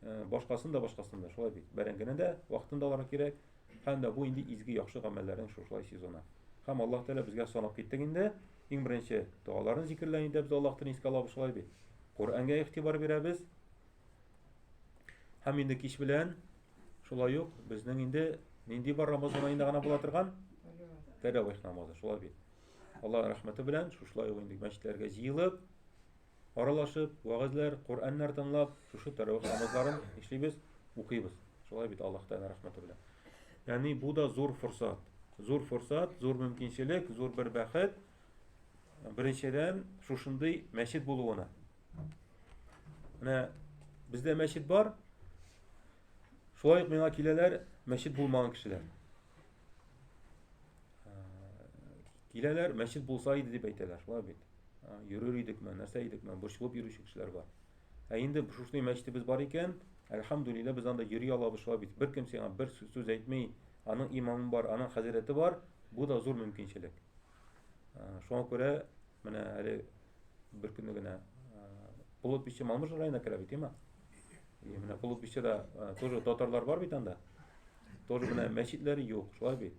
Speaker 1: Э, башкасын да башкасын да, шулай бит. Бәрәңгене дә вакытында алырга кирәк. Һәм дә бу инде изге яхшы гамәлләрнең шушылай сезоны. Һәм Аллаһ Тәгалә безгә санап киттек инде. Иң беренче догаларын зикерлән идә без Аллаһтан искә алабыз шулай бит. Коръәнгә игътибар бирәбез. Һәм инде кич белән шулай ук безнең инде нинди бар Рамазан аенда гына була торган тәравих намазы шулай бит. Аллаһ рәхмәте белән шушылай ук инде мәчетләргә җыелып Аралашып, вәгазьләр, Коръәннәр тыңлап, шушы тәравих намазларын эшлибез, укыйбыз. Шулай бит Аллаһ Тәгалә рәхмәте белән. Яни бу да зур форсат. Зур форсат, зур мөмкинчелек, зур бер бәхет. Беренчедән, шушындый мәчет булуына. Менә бездә мәчет бар. Шулай ук миңа киләләр мәчет булмаган кешеләр. Киләләр, мәчет булса иде дип әйтәләр, шулай бит. йөрер идекме, нәрсә идекме, борчылып йөрүче кешеләр бар. Ә инде шушный мәчетебез бар икән, әлхамдулилла, без анда йөри алабыз шулай бит. Бер кем сиңа бер сүз әйтми, аның имамы бар, аның хәзрәте бар, бу да зур мөмкинчелек. Шуңа күрә менә әле бер көнне генә Булып биче Мамыш районына керә бит, имма. И менә Булып биче да тоже татарлар бар бит анда. Тоже менә мәчетләре юк, шулай бит.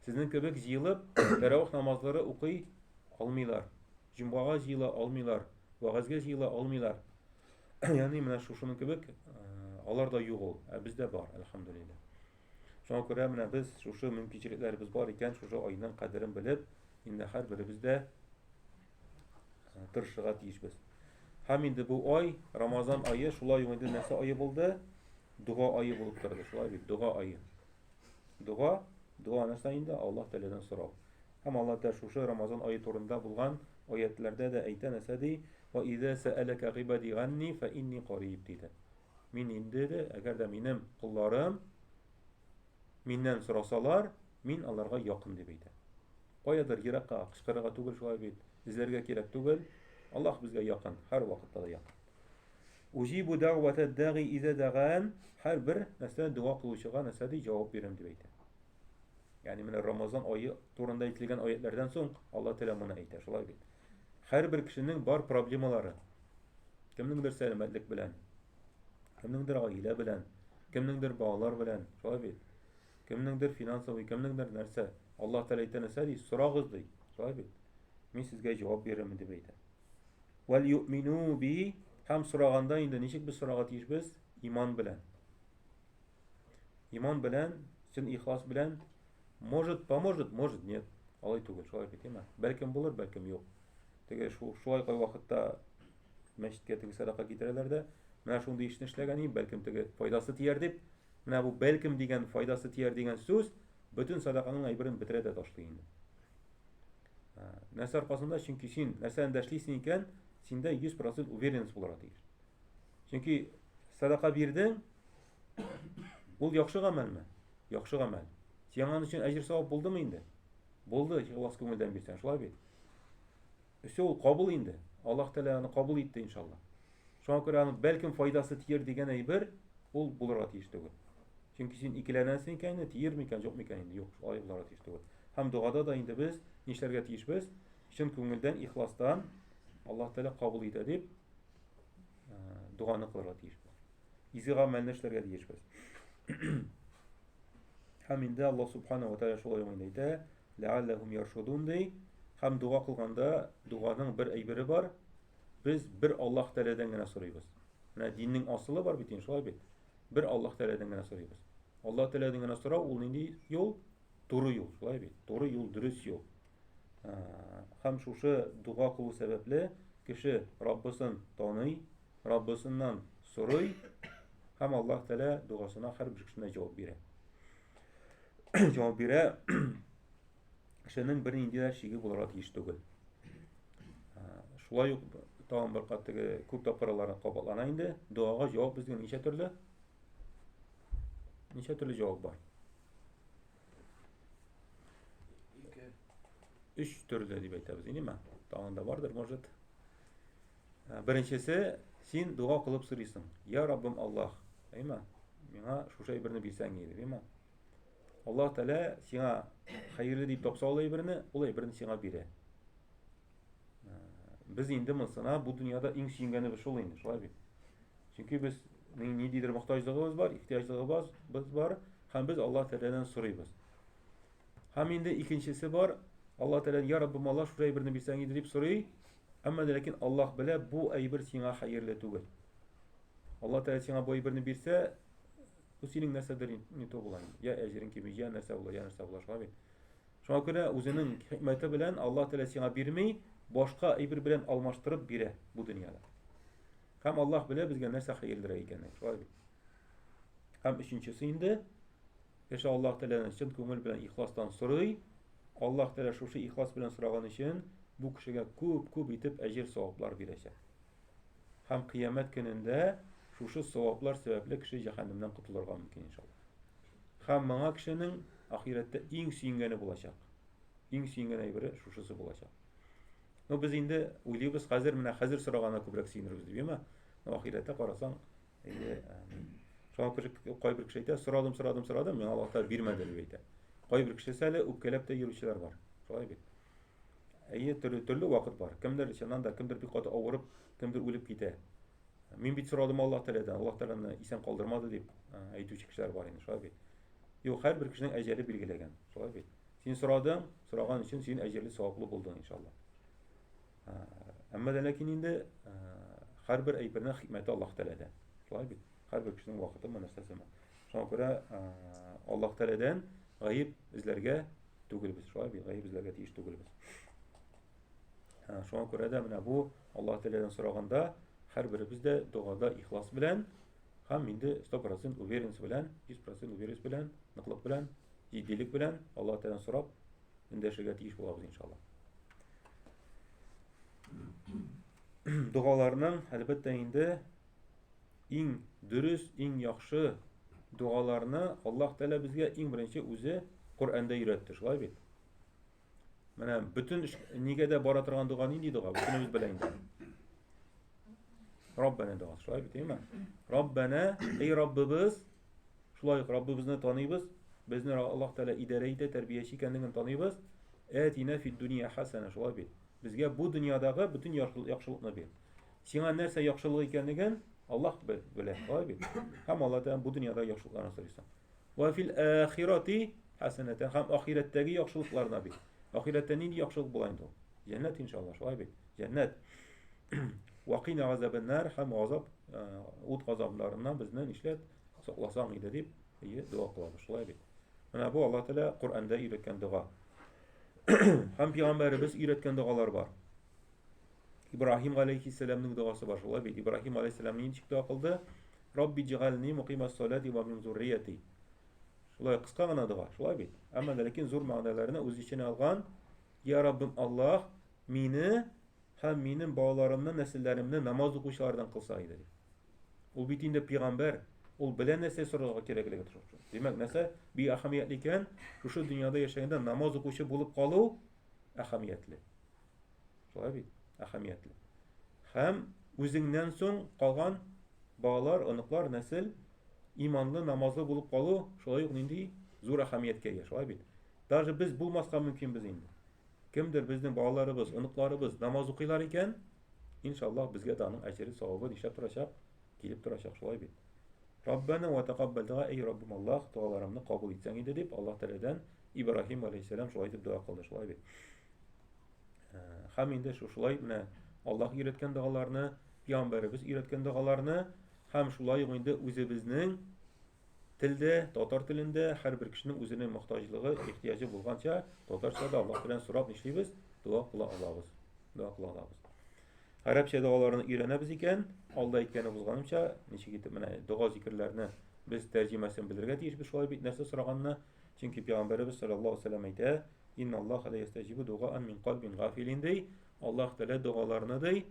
Speaker 1: Сезнең кебек җыелып, тәравих намазлары укый алмыйлар. Җомгага җыела алмыйлар, вәгазьгә җыела алмыйлар. Яни менә шушының кебек алар да юк ул, ә бездә бар, әлхәмдулилләһ. Шуңа күрә менә без шушы мөмкинчелекләребез бар икән, шушы айның кадерен белеп, инде һәрберебез дә тырышырга тиешбез. Һәм инде бу ай, Рамазан айы, шулай ук инде нәрсә айы булды? Дуга айы булып торды, шулай бит, дуга айы. Дуга, дуга нәрсә инде? Аллаһ Тәгаләдән сорау. Һәм Аллаһ Тәгалә шушы Рамазан ае турында булган аятьләрдә дә әйтә нәрсә ди? Ва иза сәәләкә гыйбади ганни фә инни кариб диде. Мин инде дә, әгәр дә минем кулларым миннән сорасалар, мин аларга якын дип әйтә. Каядыр еракка кычкырырга түгел шулай бит, эзләргә кирәк түгел. Аллаһ безгә якын, һәр вакытта да якын. Уҗибу дәгъвәтә дәги иза дәган, һәр бер нәрсә дога кылучыга нәрсә ди, җавап бирәм дип әйтә. Ягъни менә Рамазан ае турында әйтелгән аятлардан соң Алла Тәгалә моны әйтә, шулай бит. Һәрбер кешенең бар проблемалары. Кемнеңдер сәламәтлек белән, кемнеңдер гаилә белән, кемнеңдер балалар белән, шулай бит. Кемнеңдер финансовый, кемнеңдер нәрсә. Алла Тәгалә әйтә нәрсә ди? Сорагыз ди, шулай бит. Мин сезгә җавап бирермен дип әйтә. Вәл юмину би һәм сораганда инде ничек без сорарга тиешбез? Иман белән. Иман белән, чын ихлас белән может поможет, может нет. Алай түгел, шулай бит, әйме? Бәлкем булыр, бәлкем юк. Теге шулай кай вакытта мәчеткә теге садака китерәләр дә, менә шундый эшне эшләгән идем, бәлкем теге файдасы тияр дип, менә бу бәлкем дигән файдасы тияр дигән сүз бөтен садаканың әйберен бетерә дә ташлый инде. Нәрсә аркасында? Чөнки син нәрсәдән дә эшлисең икән, синдә 100% уверенность булырга тиеш. Чөнки садака бирдең, Ул яхшы гамәлме? Яхшы гамәл. Сиңа аның өчен әҗер савап булдымы инде? Булды, ихлас күңелдән бирсәң, шулай бит. Өсе ул кабул инде. Аллаһ Тәгалә аны кабул итте иншалла. Шуңа күрә аның бәлкем файдасы тияр дигән әйбер ул булырга тиеш түгел. Чөнки син икеләнәсең икән, тиер микән, юк микән инде, юк, алай булырга тиеш түгел. Һәм догада да инде без нишләргә тиешбез? Чын күңелдән, ихластан Аллаһ Тәгалә кабул итә дип э, доганы кылырга тиешбез. Изге гамәлне эшләргә тиешбез. Һәм инде Аллаһ субхана ва тааля шулай гына әйтә, ләалләһум яршудун ди. Һәм дога кылганда доганың бер әйбере бар. Без бер Аллаһ тәләдән генә сорыйбыз. Менә диннең асылы бар бит, шулай бит. Бер Аллаһ тәләдән генә сорыйбыз. Аллаһ тәләдән генә сорау ул нинди юл? Туры юл, шулай бит. Туры юл, дөрес юл. Һәм шушы дога кылу сәбәпле кеше Раббысын таный, Раббысыннан сорый һәм Аллаһ Тәгалә дуасына һәрбер кешенә җавап бирә. Җавап бирә. Кешенең бер нинди дә шиге булырга тиеш түгел. Шулай ук тагын бер кат теге күп тапкырлар кабатлана инде. Дуага җавап безгә ничә төрле? Ничә төрле җавап бар? Өч төрле дип әйтәбез, инде ме? Тагын да бардыр, может. Ә, Беренчесе, син дога кылып сорыйсың. Я Раббым Аллаһ, әйма, миңа шушы әйберне бирсәң иде, әйма. Аллаһ Тәгалә сиңа хәерле дип тапса ул әйберне, ул әйберне сиңа бирә. Ә, Без инде монсына бу дөньяда иң сөенгәнебез шул инде, шулай бит. Чөнки без ни- ниндидер мохтаҗлыгыбыз бар, ихтыяҗлыгыбыз без бар, һәм без Аллаһ Тәгаләдән сорыйбыз. Һәм инде икенчесе бар, Алла Тәгалә, я Раббы, мала шул әйберне бирсәң иде дип сорый. Әмма ләкин Аллаһ белә, бу әйбер сиңа хәерле түгел. Алла Тәгалә сиңа бу әйберне бирсә, бу синең нәрсәдер не то була. Я әҗерең кими, я нәрсә була, я нәрсә була, шулай бит. Шуңа күрә үзенең хикмәте белән Алла Тәгалә сиңа бирми, башка әйбер белән алмаштырып бирә бу дөньяда. Һәм Аллаһ белә безгә нәрсә хәерлерәк икәнен, шулай бит. Һәм өченчесе инде Кеше Аллаһ Тәгаләдән чын күңел белән ихластан сорый. Аллаһ Тәгалә шушы ихлас белән сораган өчен бу кешегә күп-күп итеп әҗер-саваплар бирәчәк. Һәм кыямәт көнендә шушы саваплар сәбәпле кеше җәһәннәмнән котылырга мөмкин иншаллаһ. Һәм моңа кешенең ахирәттә иң сөенгәне булачак. Иң сөенгән әйбере шушысы булачак. Ну без инде уйлыйбыз хәзер менә хәзер сорагана күбрәк сөенербез дип, яме? Ну ахирәттә карасаң, Әйе. Шуңа күрә кайбер кеше әйтә, сорадым, сорадым, сорадым, миңа Аллаһ Тәгалә бирмәде дип әйтә. Кайбер кешесе әле үпкәләп тә йөрүчеләр бар. Шулай бит. Әйе, төрле төрле вакыт бар. Кемдер чыннан да, кемдер бик каты авырып, кемдер үлеп китә. Мин бит сорадым Аллаһ Тәгаләдән, Аллаһ Тәгаләне исән калдырмады дип әйтүче кешеләр бар инде, шулай бит. Юк, һәрбер кешенең әҗәле билгеләгән, шулай бит. Син сорадың, сораган өчен син әҗәле саваплы булдың, иншаллаһ. Әмма дә ләкин инде һәрбер әйбернең хикмәте Аллаһ Тәгаләдә. Шулай бит. Һәрбер кешенең вакыты ма нәрсәсе ма. Шуңа күрә Аллаһ Тәгаләдән гаеп эзләргә түгел без. Шулай бит. Гаеп эзләргә тиеш түгел без. Шуңа күрә дә менә бу Аллаһ Тәгаләдән сораганда һәрберебез дә догада ихлас белән һәм инде 100% уверенность белән, 100% уверенность белән, ныклык белән, җитдилек белән Аллаһ Тәгаләдән сорап эндәшергә тиеш булабыз иншалла. Догаларның әлбәттә инде иң дөрес, иң яхшы догаларны Аллаһ Тәгалә безгә иң беренче үзе Коръәндә өйрәтте, шулай бит? Менә бөтен нигә дә бара торган дога нинди дога? Бөтенебез белә инде. Раббана дога, шулай бит, әйме? Раббана, эй Раббыбыз, Шулай ук Раббыбызны таныйбыз, безне Аллаһ Тәгалә идарә итә, тәрбияче икәнлеген таныйбыз. Әтина фид дөнья хәсәнә, шулай бит. Безгә бу дөньядагы бөтен яхшылыкны бир. Сиңа нәрсә яхшылык икәнлеген Аллаһ белә, шулай бит. Һәм Аллаһ Тәгалә бу дөньяда яхшылыкларны сорыйсың. Ва фил ахирати хәсәнәтән һәм ахирәттәге яхшылыкларны бир. Ахирәттә нинди яхшылык була инде ул? Җәннәт иншаллаһ, шулай бит. Җәннәт. Вакина газабен нар һәм газап ут газапларыннан безне нишләп сакласаң иде дип ие дога кылабыз. Шулай бит. Менә бу Алла Тәгалә Коръәндә өйрәткән дога. Һәм пәйгамбәребез өйрәткән догалар бар. Ибраһим галәйһиссәламның догасы бар. Шулай бит. Ибраһим галәйһиссәлам ничек дога кылды? Рабби җигални мукимас салати ва мин зуррияти. Шулай кыска гына дога. Шулай бит. Әмма ләкин зур мәгънәләрне үз эченә алган. Я Раббым Аллаһ, мине һәм минем балаларымны, нәселләремне намаз укучылардан кылса иде. Ул бит инде пигамбәр, ул белә нәрсә сорарга кирәклеге турында. Димәк, нәрсә бик әһәмиятле икән, шушы дөньяда яшәгәндә намаз укучы булып калу әһәмиятле. Шулай бит, әһәмиятле. Һәм үзеңнән соң калган балалар, оныклар, нәсел иманлы, намазлы булып калу шулай ук нинди зур әһәмияткә ия, шулай бит. Даже без булмаска мөмкинбез инде. Кемдер безнең балаларыбыз, оныкларыбыз намаз укыйлар икән, иншаллаһ безгә дә аның әҗере савабы нишләп торачак, килеп торачак, шулай бит. Раббана ва тәкаббәл дога, әй Раббым Аллаһ, дуаларымны кабул итсәң иде дип, Аллаһ Тәгаләдән Ибраһим алейһиссәлам шулай дип дога кылды, шулай бит. Хәм инде шушылай менә Аллаһ өйрәткән догаларны, пиамбәребез өйрәткән догаларны һәм шулай ук инде үзебезнең Телдә, татар телендә һәрбер кешенең үзенең мохтаҗлыгы, ихтыяҗы булганча, татарча да Аллаһ белән сорап нишлибез? Дога кыла алабыз. Дога кыла алабыз. Гарәпчә догаларны өйрәнәбез икән, алда әйткәне булганымча, ничек итеп менә дога зикерләрне без тәрҗемәсен белергә тиеш без шулай бит нәрсә сораганны? Чөнки пәйгамбәребез саллаллаһу алейһи вәсәлләм әйтә, "Инна Аллаһ ла ястәҗибу дугаан мин калбин гафилин" ди. Аллаһ Тәгалә догаларны ди,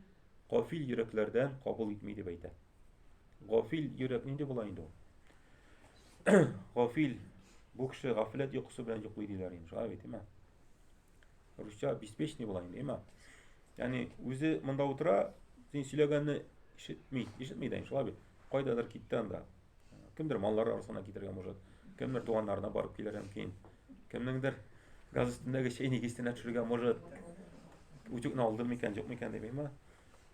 Speaker 1: кафил йөрәкләрдән кабул итми дип әйтә. Гафил йөрәк нинди була инде ул? Гафил бу кеше гафиләт йокысы белән йоклый диләр инде, шулай бит, әйме? Русча беспечный була инде, әйме? Ягъни үзе монда утыра, син сөйләгәнне ишетми, ишетми дә, шулай бит. Кайдадыр китте анда. Кемдер маллары арасына китергән может, кемдер туганнарына барып килер мөмкин. Кемнеңдер газ өстендәге чәйник истенә төшергән может. Утюгны алды микән, юк микән дип, әйме?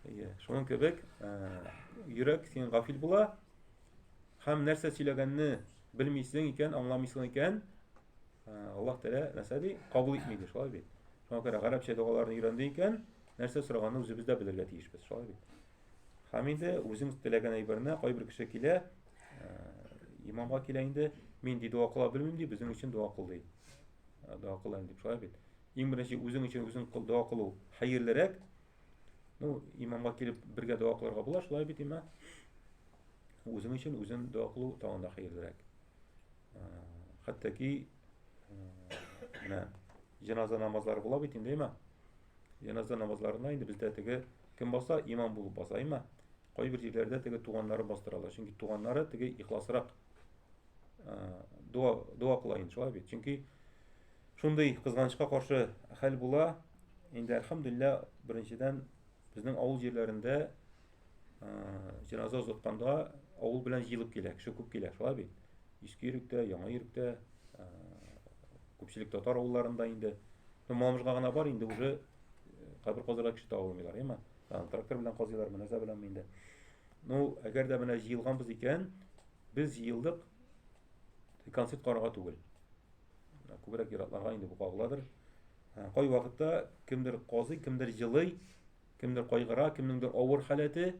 Speaker 1: Әйе, шуның кебек, йөрәк син гафил була, һәм нәрсә сөйләгәнне белмисең икән, аңламыйсың икән, Аллаһ Тәгалә нәрсә ди? Кабул итми ди, шулай бит. Шуңа күрә гарәпчә догаларны өйрәнде икән, нәрсә сораганны үзебез дә белергә тиешбез, шулай бит. Һәм инде үзең теләгән әйберне кайбер кеше килә, имамга килә инде, мин ди дога кыла белмим ди, безнең өчен дога кыл ди. Дога кылам дип шулай бит. Иң беренче үзең өчен үзең кыл дога кылу хәерлерәк, Ну, имамга килеп бергә дога кылырга була, шулай бит имам. Үзең өчен үзен дога кылу тагын да хәерлерәк. Хәтта ки менә җеназа намазлары була бит инде имам. Җеназа намазларына инде бездә теге кем баса, имам булып баса имам. Кайбер җирләрдә теге туганнары бастыралар, чөнки туганнары теге ихласрак дога дога кыла инде шулай бит. Чөнки шундый кызганычка каршы хәл була, Инде әлхәмдүлилләһ, беренчедән безнең авыл җирләрендә җеназа озатканда авыл белән җыелып килә, кеше күп килә, шулай бит. Иске Йөректә, Яңа Йөректә, күпчелек татар авылларында инде. Ну, Мамыжга гына бар инде уже кабер казырга кеше таба алмыйлар, яме. Трактор белән казыйлар, мөнәза белән инде. Ну, әгәр дә менә җыелганбыз икән, без җыелдык концерт карарга түгел. Күбрәк иратларга инде бу кагыладыр. Кайвакытта кемдер казый, кемдер елый, кемдер кайгыра, кемнеңдер авыр халәте.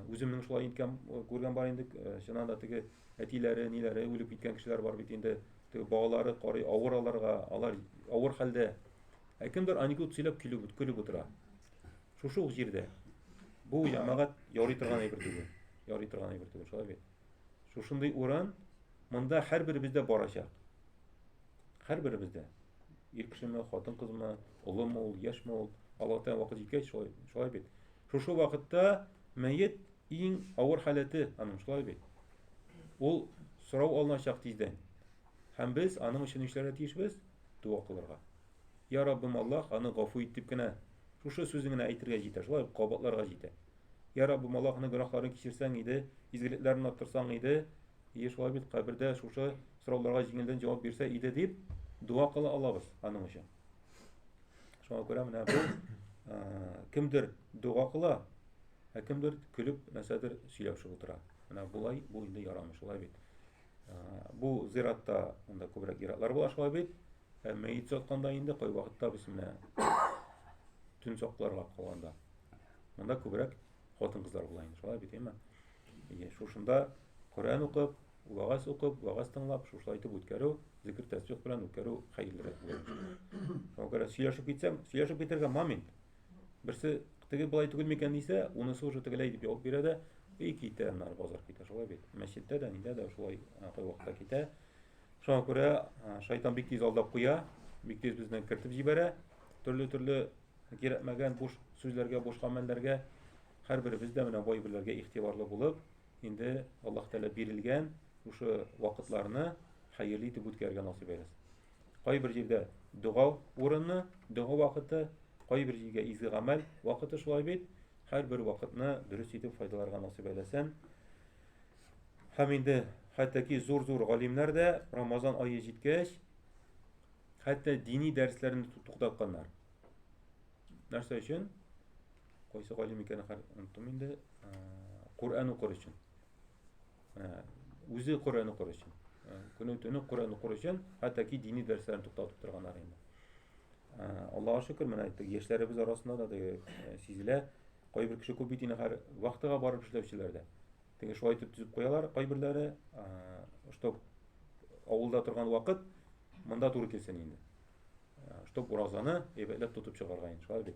Speaker 1: Үземнең шулай иткән күргән бар инде, чыннан да теге әтиләре, ниләре үлеп киткән кешеләр бар бит инде. Теге балалары карый авыр аларга, алар авыр хәлдә. Ә кемдер анекдот сөйләп көлеп, көлеп утыра. Шушы ук җирдә. Бу ямагат ярый торган әйбер түгел. Ярый торган әйбер түгел, шулай бит. Шушындый урын монда һәрберебездә барачак. Һәрберебез дә ир кешеме, хатын-кызмы, улымы ул, яшьме ул, Аллаһ Тәгалә вакыт җиткәч шулай, шулай бит. Шушы вакытта мәет иң авыр халәте аның шулай бит. Ул сорау алыначак тиздән. Һәм без аның өчен эшләргә тиешбез, дога кылырга. Я Раббым Аллаһ, аны гафу ит дип кенә шушы сүзен генә әйтергә җитә, шулай кабатларга җитә. Я Раббым Аллаһ, аны гөнаһларын кичерсәң иде, изгелекләрен арттырсаң иде, Әйе, шулай бит, кабердә шушы сорауларга җиңелдән җавап бирсә иде дип дога кыла алабыз аның өчен. Шуңа күрә менә бу кемдер дога кыла, ә кемдер көлеп нәрсәдер сөйләшеп утыра. Менә болай бу инде ярамый, шулай бит. Бу зиратта монда күбрәк зиратлар була шулай бит. Ә мәйет сатканда инде кай вакытта без менә төн сакларга калганда. Монда күбрәк хатын кызлар була инде шулай бит әйме әйе шушында коръән укып вәгазь укып вәгазь тыңлап шушылай итеп үткәрү зикр тәсбих белән үткәрү хәерлерәк була шуңа күрә сөйләшеп китсәң сөйләшеп китәргә момент берсе теге болай түгел микән дисә унысы уже тегеләй дип ябып бирә дә и китә аннары базар китә шулай бит мәчеттә дә нидә дә шулай кайвакытта китә шуңа күрә шайтан бик тиз алдап куя бик тиз безне кертеп җибәрә төрле төрле Кирәкмәгән буш сүзләргә, буш гамәлләргә һәрберебез дә менә бу әйберләргә игътибарлы булып, инде Аллаһ Тәгалә бирелгән шушы вакытларны хәерле итеп үткәрергә насыйп әйләсен. Кайбер җирдә дога урыны, дога вакыты, кайбер җиргә изге гамәл вакыты шулай бит. Һәрбер вакытны дөрес итеп файдаларга насыйп әйләсен. Һәм инде хәтта ки зур-зур галимнәр дә Рамазан ае җиткәч, Хәтта дини дәресләрне туктатканнар. Нәрсә өчен? Кайсы галим икәнен оныттым инде. Коръән укыр өчен. Үзе Коръән укыр өчен. Көне төне Коръән укыр өчен, хәтта ки дини дәресләрне туктатып торганнар инде. Аллаһа шөкер, менә әйттек, яшьләребез арасында да сезләр кайбер кеше күп бит инде хәзер вахтага барып эшләүчеләр дә. Теге шулай итеп төзеп куялар кайберләре, чтоб авылда торган вакыт монда туры килсен инде. Чтоб уразаны әйбәтләп тотып чыгарга инде, шулай бит.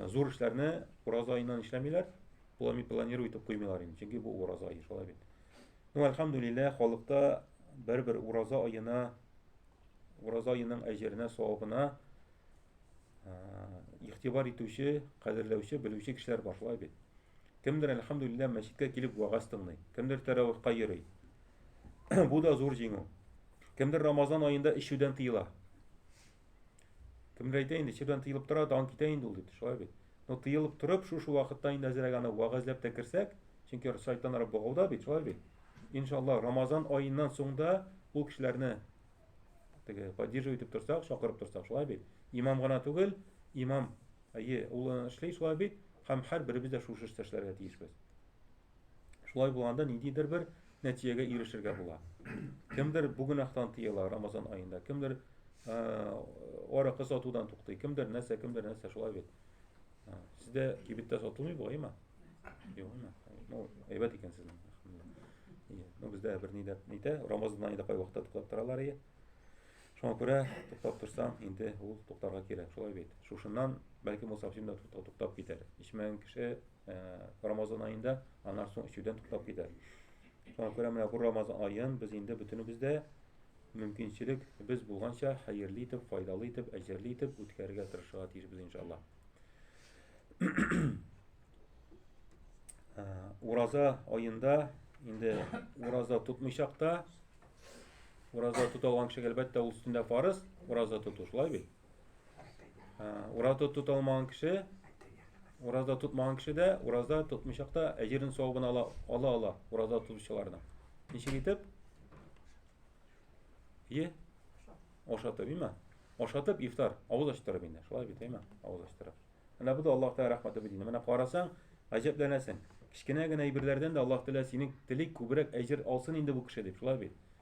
Speaker 1: Зур эшләрне ураза аеннан эшләмиләр, плами планируют итеп куймыйлар инде, чөнки бу ураза ае, шулай бит. Ну, альхамдулиллах, халыкта бер-бер ураза аена, ураза аеның әҗеренә, савабына игътибар итүче, кадерләүче, белүче кешеләр бар, шулай бит. Кемдер, әлхәмдүлилләһ, мәчеткә килеп вәгазь тыңлый, кемдер тәравихка йөри. Бу да зур җиңү. Кемдер Рамазан аенда эчүдән тыела. Кемдер әйтә инде, эчүдән тыелып тора, дан китә инде ул дип, шулай бит. Но тыелып торып, шушы вакытта инде әзрәк аны вәгазьләп тә керсәк, чөнки шайтаннар богауда бит, шулай бит. Иншаллаһ, Рамазан аеннан соң да ул кешеләрне теге поддерживать итеп торсак чакырып торсак шулай бит имам гына түгел имам әйе ул эшли шулай бит һәм һәрберебез дә шушы эштә эшләргә тиешбез шулай булганда ниндидер бер нәтиҗәгә ирешергә була кемдер бу гөнаһтан тыела рамазан аенда кемдер аракы сатудан туктый кемдер нәрсә кемдер нәрсә шулай бит А, Сездә кибеттә сатылмый бу, әйме? Юк, әйме. Ну, әйбәт икән сезнең. Ие. Ну, бездә бер нидә нитә, Рамазанда нидә кай вакытта туктап торалар ие. Шуңа күрә туктап торсаң, инде ул туктарга кирәк, шулай бит. Шушыннан бәлки мусафирда туктап китәр. Ичмәгән кеше Рамазан аенда аннан соң эчүдән туктап китә. Шуңа күрә менә бу Рамазан аен без инде бөтенебез дә мөмкинчелек без булганча хәерле итеп, файдалы итеп, әҗерле итеп үткәрергә тырышырга тиешбез иншалла. Ураза аенда инде ураза тотмыйчак та ураза тота алган кешегә әлбәттә ул өстендә фарыз ураза тоту шулай бит. Ураза тота алмаган кеше, ураза тотмаган кеше дә, ураза тотмыйчак та әҗерен савабын ала ала ала ураза тотучыларның. Ничек итеп? Е? Ашатып, имә? Ашатып ифтар, авыз ачтырып инде. Шулай бит, имә? Авыз ачтырып. Менә бу да Аллаһ Тәгалә рәхмәте бит инде. Менә карасаң, гаҗәпләнәсең. Кечкенә генә әйберләрдән дә Аллаһ Тәгалә синең телик күбрәк әҗер алсын инде бу кеше дип. Шулай бит.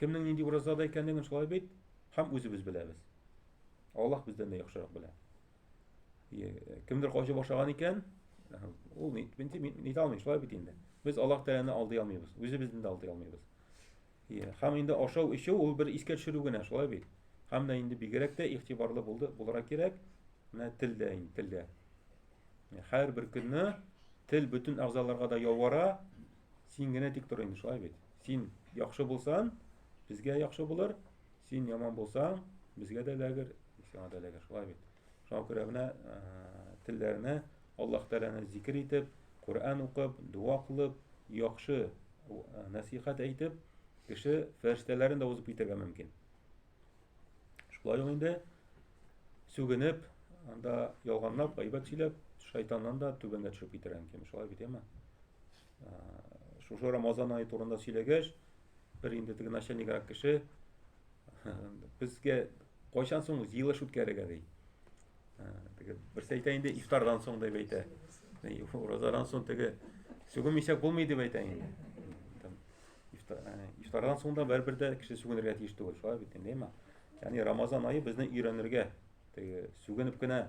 Speaker 1: Кемнең нинди уразада икәнлеген шулай бит һәм үзебез беләбез. Аллаһ бездән дә яхшырак белә. Кемдер качып ашаган икән, ул ни бинти ни алмый, шулай бит инде. Без Аллаһ Тәгаләне алдый алмыйбыз, үзебезне дә алдый алмыйбыз. Иә, һәм инде ашау эчү ул бер искә төшерү генә, шулай бит. Һәм дә инде бигрәк тә игътибарлы булды, буларак кирәк. Менә телдә инде, телдә. Һәр бер көнне тел бөтен әгъзаларга да явара, син генә тик тор инде, шулай бит. Син яхшы булсан, безгә яхшы булыр, син яман булсаң, безгә дә ләгер, сиңа да ләгер. Шулай бит. Шуңа күрә менә телләрне Аллаһ Тәгаләне зикер итеп, Коръән укып, дуа кылып, яхшы насихат әйтеп, кеше фәрештәләрен дә узып китәргә мөмкин. Шулай ук инде сүгенеп, анда ялганлап, гайбәт сөйләп, шайтаннан да түбәнгә төшеп китәргә мөмкин. Шулай бит, яме? Шушы Рамазан айы турында сөйләгәч, бер инде теге начальникрак кеше безгә кайчан соң җыелыш үткәрергә ди. Теге берсе әйтә инде ифтардан соң дип әйтә. Уразадан соң теге сүгенмичә булмый дип әйтә инде. Ифтардан соң да бер-бер дә кеше сүгенергә тиеш түгел, шулай бит инде, әйме? Ягъни Рамазан айы безне өйрәнергә, теге сүгенеп кенә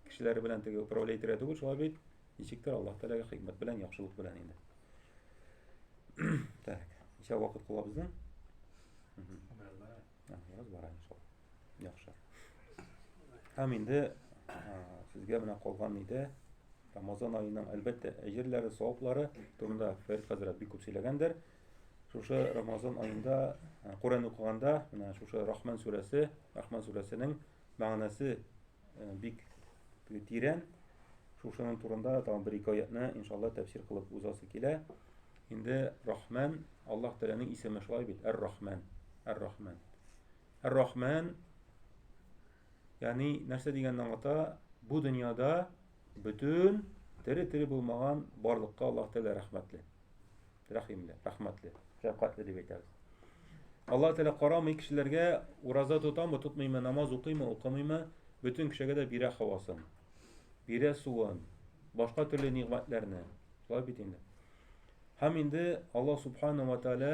Speaker 1: кешеләр белән теге управлять итәргә түгел, шулай бит? Ничектер Аллаһ Тәгаләгә хикмәт белән, яхшылык белән инде. Так, ничә вакыт кыла безнең? Бераз бара. Бераз бара иншалла. Яхшы. Һәм инде сезгә менә калган иде Рамазан аеның әлбәттә әҗерләре, саваплары турында Фәрит хәзрәт бик күп сөйләгәндер. Шушы Рамазан аенда Коръән укыганда, менә шушы Рахман сүрәсе, Рахман сүрәсенең мәгънәсе э, бик тирән. Шушының турында тагын бер-ике аятны, иншалла, тәфсир кылып узасы килә. Инде Рахман, Аллаһ Тәгаләнең исеме шулай бит, Әр-Рахман. Әр-Рахман. Әр-Рахман, ягъни нәрсә дигәнне аңлата? Бу дөньяда бөтен тере-тере булмаган барлыкка Аллаһ Тәгалә рәхмәтле. Рәхимле, рәхмәтле, шәфкатьле дип әйтәбез. Аллаһ Тәгалә карамый кешеләргә ураза тотамы, тотмыймы, намаз укыймы, укымыймы, бөтен кешегә дә бирә хавасын. Бирә суын, башка төрле нигъмәтләрне. Шулай бит инде. Һәм инде Алла Субхана ва Тәгалә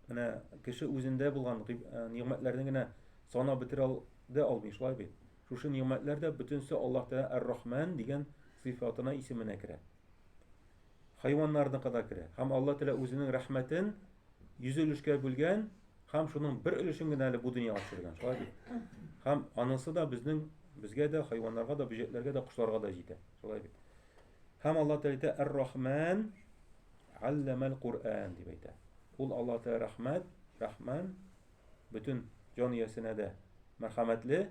Speaker 1: менә кеше үзендә булган э, нигъмәтләрне генә санап бетерә дә алмый, шулай бит. Шушы нигъмәтләр дә бөтенсе Аллаһ Тәгалә Ар-Рахман дигән сыйфатына исеменә керә. Хайваннарныкы да керә. Һәм Алла Тәгалә үзенең рәхмәтен йөз өлешкә бүлгән һәм шуның бер өлешен генә әле бу дөньяга төшергән. Шулай бит? Һәм анысы да безнең безгә дә, хайваннарга да, бөҗәкләргә дә, кошларга да җитә. Шулай бит? Һәм Алла Тәгалә әйтә, "Ар-Рахман алламал Кур'ан" дип әйтә. Ул Алла Тәгалә рәхмәт, рәхман бөтен җан иясенә дә мәрхәмәтле,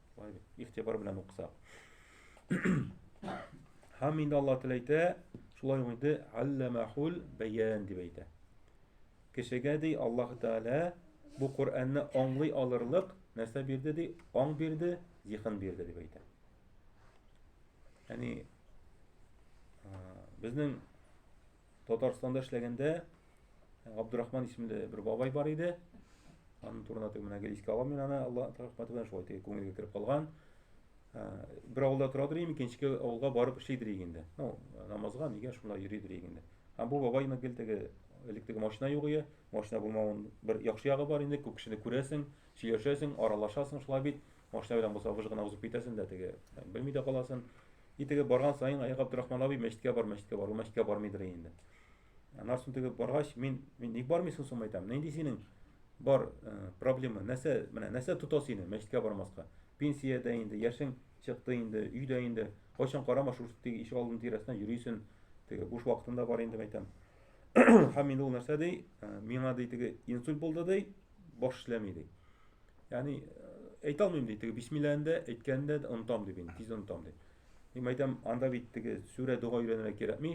Speaker 1: Игътибар белән укысак. Һәм инде Аллаһ Тәгалә әйтә, шулай ук инде алламахул бәян дип әйтә. Кешегә ди Аллаһ Тәгалә бу Коръәнне аңлый алырлык нәрсә бирде ди, аң бирде, зиһен бирде дип әйтә. Яни безнең Татарстанда эшләгәндә Габдурахман исемле бер бабай бар иде. Аның турында теге менә гел искә алам мин аны, Алла рәхмәте белән шулай теге күңелгә кереп калган. Бер авылда тора дирем, икенче авылга барып эшли дирек инде. Ну, намазга нигә шунда йөри дирек инде. Һәм бу бабай инде гел теге элек теге машина юк иде. Машина булмавын бер яхшы ягы бар инде, күп кешене күрәсең, сөйләшәсең, аралашасың шулай бит. Машина белән булса выж гына узып китәсен дә теге белми дә каласын. И теге барган саен Аяк Абдрахман абый мәчеткә бар, мәчеткә бар, ул мәчеткә бармыйдыр инде. Аннан соң теге баргач, мин мин ник бармыйсың соң әйтәм. Нинди синең бар проблема? Нәрсә, менә нәрсә тота сине мәчеткә бармаска? Пенсиядә инде, яшең чыкты инде, өйдә инде. Кайчан карама шушы теге ишек алдының тирәсенә йөрисен. Теге буш вакытында бар инде әйтәм. Һәм инде ул нәрсә ди? Миңа ди теге инсульт булды ди, баш эшләми ди. Яни әйтә алмыйм ди, теге бисмилләһен дә, әйткәнен дә онытам ди, мин тиз онытам ди. Мин әйтәм, анда бит теге сүрә дога өйрәнергә кирәкми.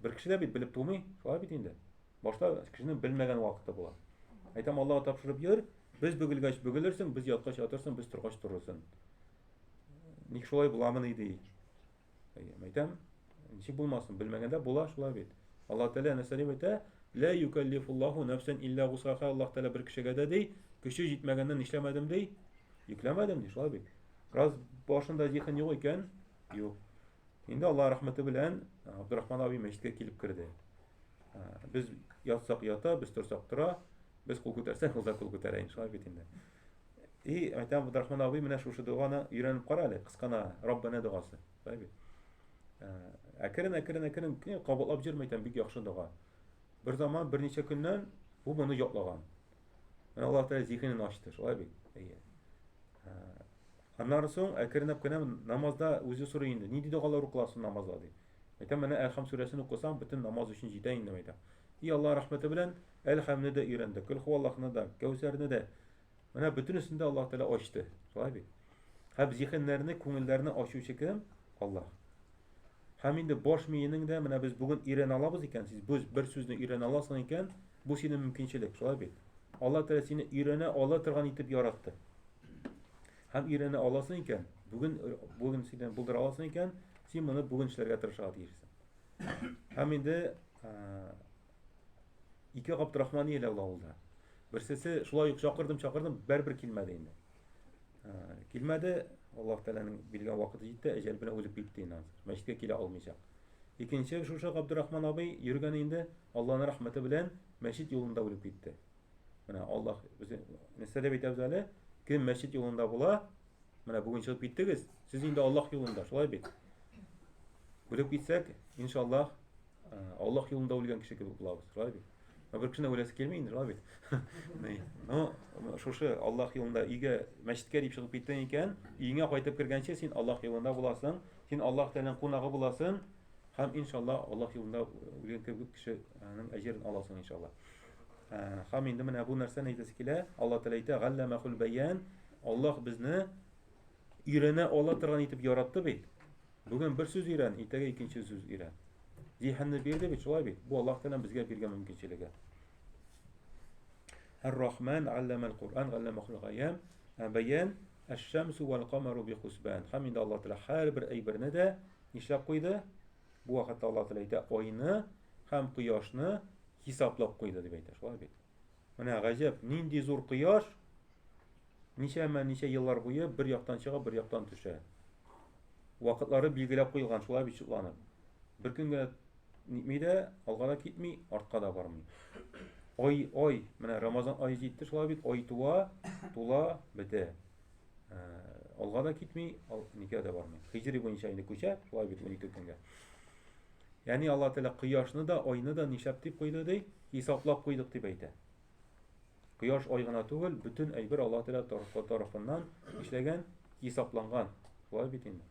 Speaker 1: Бер кеше дә бит белеп тумый, шулай бит инде. Башта кешенең белмәгән вакыты була. Әйтәм, Аллаһ тапшырып йөр, без бөгелгәч бөгелерсең, без яткач ятырсың, без торгач торырсың. Ник шулай буламыни ди. Әйтәм, ничек булмасын, белмәгәндә була шулай бит. Аллаһ Тәгалә нәрсә дип әйтә? Лә юкәллифуллаху нәфсән илля гусаха. Аллаһ Тәгалә бер кешегә дә ди, көче җитмәгәннән нишләмәдем ди? Йөкләмәдем ди, шулай бит. Раз башында зиһен юк икән, юк. Инде Аллаһ рәхмәте белән Абдурахман абый мәчеткә килеп керде. Без ятсак ята, без торсак тора, без кул күтәрсәк, ул да кул күтәрә, шулай бит инде. И, әйтәм, Габдрахман абый, менә шушы доганы өйрәнеп кара әле, кыскана Раббана догасы. Әйбәт. Ә, әкрен, әкрен, әкрен кенә кабатлап җөрмә икән, бик яхшы дога. Бер заман, берничә көннән бу моны ятлаган. Менә Аллаһ Тәгалә зиһенен ачты, шулай бит. Әйе. Ә, аннан соң әкренләп кенә намазда үзе сорый инде. Нинди догалар укыласын намазда ди. Әйтәм, менә Әлхам сүрәсен укысаң, бөтен намаз өчен җитә инде, әйтәм. И Аллаһ рәхмәте белән Әлхамны да өйрәндек, Көл хуаллахны да, Кәүсәрне дә, Менә бөтенесен дә Аллаһ Тәгалә ачты. Шулай бит? Һәм зиһеннәрне, күңелләрне ачучы кем? Аллаһ. Һәм инде баш миенең дә менә без бүген өйрәнә алабыз икән, сез без бер сүзне өйрәнә аласың икән, бу синең мөмкинчелек, шулай бит? Аллаһ Тәгалә сине өйрәнә ала торган итеп яратты. Һәм өйрәнә аласың икән, бүген бүген синең булдыра аласың икән, син моны бүген эшләргә тырышырга тиешсең. Һәм инде Ике Габдрахман ияләр ул авылда. Берсесе шулай ук чакырдым, чакырдым, бер-бер килмәде инде. Ә, килмәде, Аллаһ Тәгаләнең билгән вакыты җитте, әҗәл белән үлеп китте инде. Мәчеткә килә алмыйча. Икенче шушы Габдрахман абый йөргән инде, Аллаһның рәхмәте белән мәчет юлында үлеп китте. Менә Аллаһ үзе нәрсә дип әйтәбез әле? Кем мәчет юлында була? Менә бүген чыгып киттегез, сез инде Аллаһ юлында, шулай бит. Үлеп китсәк, иншаллаһ, Аллах юлында үлгән кеше кебек булабыз, шулай бит? Ә бер кешене үләсе килми инде, шулай бит? Ну, шушы Аллах юлында өйгә, мәчеткә дип чыгып киттең икән, өеңә кайтып кергәнче син Аллах юлында буласың, син Аллах Тәгаләнең кунагы буласың, һәм иншаллаһ Аллах юлында үлгән кебек кешенең әҗерен аласың иншаллаһ. Һәм инде менә бу нәрсәне әйтәсе килә, Аллаһ Тәгалә әйтә, "Галламахул баян", Аллаһ безне Өйрәнә ала торган итеп яратты бит. Бүген бер сүз өйрән, иртәгә икенче сүз өйрән. Зиһенне бирде бит, шулай бит. Бу Аллаһ Тәгаләнең безгә биргән мөмкинчелеге. Әр-Рахман алламал Кур'ан алламахул гаян баян әш-шамсу вал камару би хусбан. Һәм инде Аллаһ Тәгалә һәрбер әйберне дә нишләп куйды? Бу вакытта Аллаһ Тәгалә әйтә, айны һәм кояшны хисаплап куйды дип әйтә. Шулай бит. Менә гаҗәп, нинди зур кояш, Ничәмә ничә еллар буе бер яктан чыга, бер яктан төшә. Вакытлары билгеләп куелган, шулай бит шутланып. Бер көнгә нитми дә, алга да китми, артка да бармый. Ай, ай, менә Рамазан ае җитте, шулай бит, ай туа, тула, бетә. Э, алга да китми, ал, никә дә бармый. Хиҗри буенча инде күчә, шулай бит 12 көнгә. Яни Алла Тәгалә кояшны да, айны да нишләп дип куйды ди? Хисаплап куйдык дип әйтә. Кояш ай гына түгел, бөтен әйбер Аллаһ Тәгалә тарафыннан эшләгән, хисапланган. Шулай бит инде.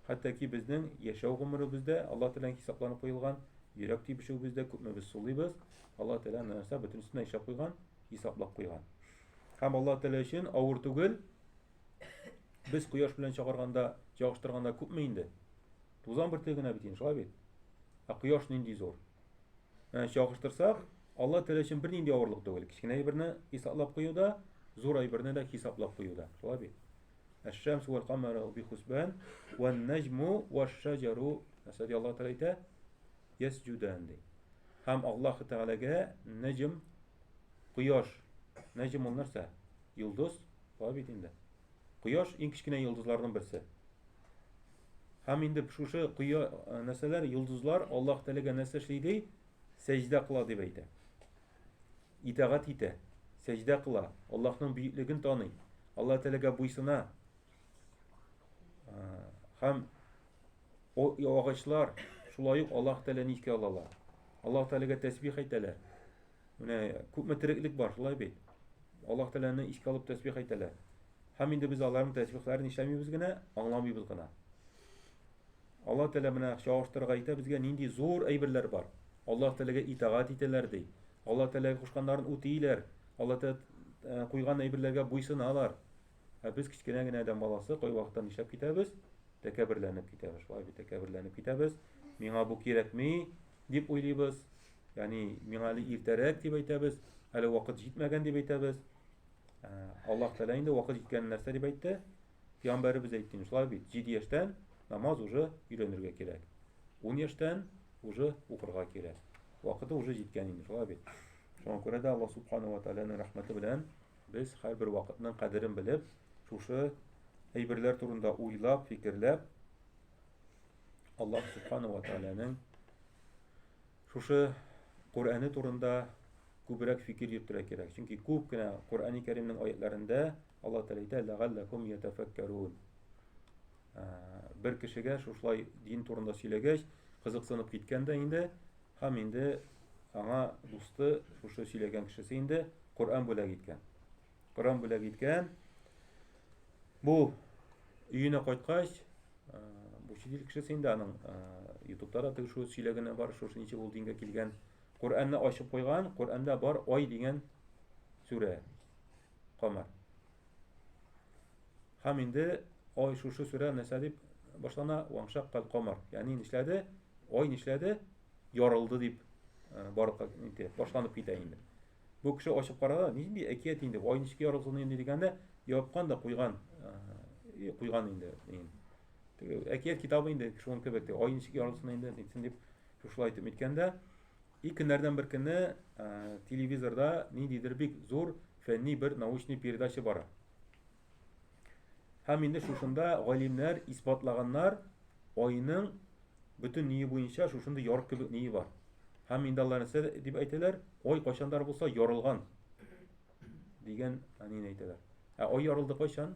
Speaker 1: Хәтта ки безнең яшәү гомеребездә Аллаһ Тәгаләнең хисапланып куелган, йөрәк тибешүебездә күпме без сулыйбыз, Аллаһ Тәгалә нәрсә бөтенесенә эшләп куйган, хисаплап куйган. Һәм Аллаһ Тәгалә өчен авыр түгел. Без кояш белән чагарганда, чагыштырганда күпме инде? Тузан бөртеге генә бит инде, шулай бит? Ә кояш нинди зур? Ә чагыштырсак, Алла теле өчен бернинди авырлык түгел. Кечкенә әйберне исаплап куюда, зур әйберне дә хисаплап куюда. Шулай бит? Әш-шәмс вәл камару би хусбан ва наҗму ва шаҗару әсәди Алла тәгалә әйтә, ясҗудан ди. Һәм Аллаһ тәгаләгә наҗм кояш, наҗм ул нәрсә? Йолдыз, шулай бит инде. Кояш иң кечкенә йолдызларның берсе. Һәм инде шушы кое нәрсәләр, йолдызлар Аллаһ теләгән нәрсә эшли ди, сәҗдә кыла дип әйтә. Итагать итә, сәҗдә кыла, Аллаһның бөеклеген таный, Аллаһ теләгә буйсына. Һәм агачлар шулай ук Аллаһ теләгән искә алалар. Аллаһ теләгә тәсбих әйтәләр. Менә күпме тереклек бар, шулай бит. Аллаһ Тәгаләне искә алып тәсбих әйтәләр. Һәм инде без аларның тәсбихләрен нишләмибез генә, аңламыйбыз гына. Аллаһ Тәгалә менә чагыштырырга әйтә безгә нинди зур әйберләр бар. Аллаһ Тәгаләгә итагать итәләр ди. Аллаһ Тәгаләгә кушканнарын үтиләр. Аллаһ Тәгалә э, куйган әйберләргә буйсыналар. Ә без кечкенә генә адәм баласы кайвакытта нишләп китәбез? Тәкәберләнеп китәбез. Шулай бит, тәкәберләнеп китәбез. Миңа бу кирәкми, дип уйлыйбыз. Яни миңа әле иртәрәк дип әйтәбез, әле вакыт җитмәгән дип әйтәбез. Ә, Аллаһ Тәгалә инде вакыт җиткән нәрсә дип әйтте. Пәйгамбәребез әйтте, шулай бит, 7 яшьтән намаз уже өйрәнергә кирәк. 10 яшьтән уже укырга кирәк. Вакыты уже җиткән инде, шулай бит. Шуңа күрә дә Аллаһ Субхану ва Тәгаләнең рәхмәте белән без һәрбер вакытның кадерен белеп, шушы әйберләр турында уйлап, фикерләп Аллаһ Субхану ва Тәгаләнең Шушы Коръәне турында күбрәк фикер йөртергә кирәк. Чөнки күп кенә Коръәни Кәримнең аятьләрендә Алла Тәгалә әйтә, "Ләгалләкум ятафаккарун". Бер кешегә шушылай дин турында сөйләгәч, кызыксынып киткән дә инде, һәм инде аңа дусты, шушы сөйләгән кешесе инде Коръән бүләк иткән. Коран бүләк иткән. Бу өенә кайткач, бу чит ил кешесе инде аның ютубта да теге шул сөйләгәне бар, шушы ничек ул дингә килгән. Коръәнне ачып куйган, Коръәндә бар ай дигән сүрә. Камар. Һәм инде ай шушы сүрә нәрсә дип башлана? Ваңшак кал камар. Ягъни нишләде? Ай нишләде? Ярылды дип барлыкка инде башланып китә инде. Бу кеше ачып карады, нинди әкият инде, ай ничек ярылсын инде дигәндә, япкан да куйган, э, куйган инде. Теге әкият китабы инде шуның кебек, ай ничек ярылсын инде, нитсен дип шушылай итеп әйткәндә, и көннәрдән бер көнне э, телевизорда ниндидер бик зур фәнни бер научный передача бара. Һәм инде шушында галимнәр исбатлаганнар, айның бөтен ние буенча шушында ярык кебек ние бар. Һәм инде алар нәрсә дип әйтәләр? Ай кайчандар булса ярылган дигән әнине әйтәләр. Ә ай ярылды кайчан?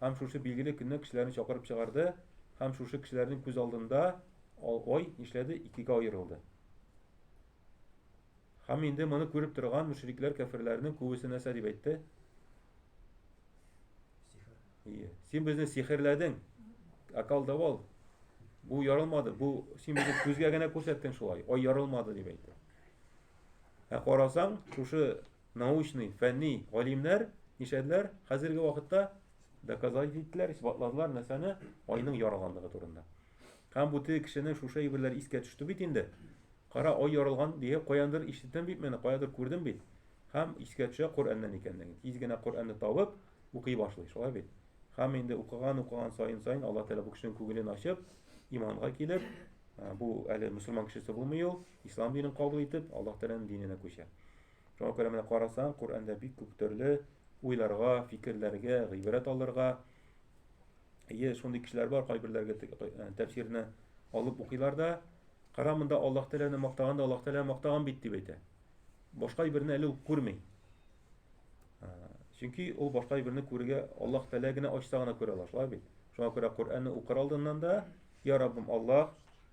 Speaker 1: Һәм шушы билгеле көнне кешеләрне чакырып чыгарды, һәм шушы кешеләрнең күз алдында ай нишләде, икегә аерылды. Һәм инде моны күреп торган мөшрикләр кәферләрнең күбесе нәрсә дип әйтте? Ие. Син безне сихерләдең. Акал давал. Бу ярылмады. Бу син безне күзгә генә күрсәттең шулай. Ай ярылмады дип әйтте. Ә карасаң, шушы Научный, фәнни, галимнәр нишләделәр? Хәзерге вакытта доказать иттеләр, исбатладылар нәрсәне? Айның яралганлыгы турында. Һәм бу теге кешенең шушы әйберләр искә төште бит инде. Кара, ай яралган дигән каяндыр ишеттем бит менә, каядыр күрдем бит. Һәм искә төшә Коръәннән икәнлеген. Тиз генә Коръәнне табып, укый башлый, шулай бит. Һәм инде укыган, укыган саен саен Алла Тәгалә бу кешенең күңелен ачып, иманга килеп, бу әле мусульман кешесе булмый ул, ислам динен кабул итеп, Аллаһ Тәгаләнең диненә күчә. Шуңа күрә менә карасаң, Коръәндә бик күп төрле уйларга, фикерләргә, гыйбрәт алырга ие шундый кешеләр бар, кайберләргә э, тәфсирне алып укыйлар да, кара монда Аллаһ Тәгаләне мактаган да Аллаһ Тәгалә мактаган бит дип әйтә. Башка берне әле үк күрми. Чөнки ул башка берне күрергә Аллаһ Тәгалә генә ачса гына күрә ала, шулай бит. Шуңа күрә Коръәнне укыр алдыннан да, я Раббым Аллаһ,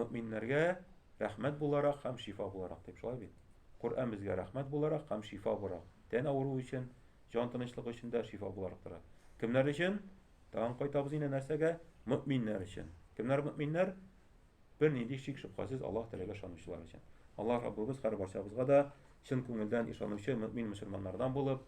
Speaker 1: Мөэминнәргә рәхмәт буларак һәм шифа буларак дип шулай бит? Коръән безгә рәхмәт буларак һәм шифа буларак, тән авыруы өчен, җан тынычлыгы өчен дә шифа буларак тора. Кемнәр өчен? Тагын кайтабыз инде нәрсәгә? Мөэминнәр өчен. Кемнәр мөэминнәр? Бернинди шик-шөбһәсез Аллаһ Тәгаләгә ышанучылар өчен. Аллаһ Раббыбыз һәрбарчабызга да чын күңелдән ышанучы мөэмин мөселманнардан булып,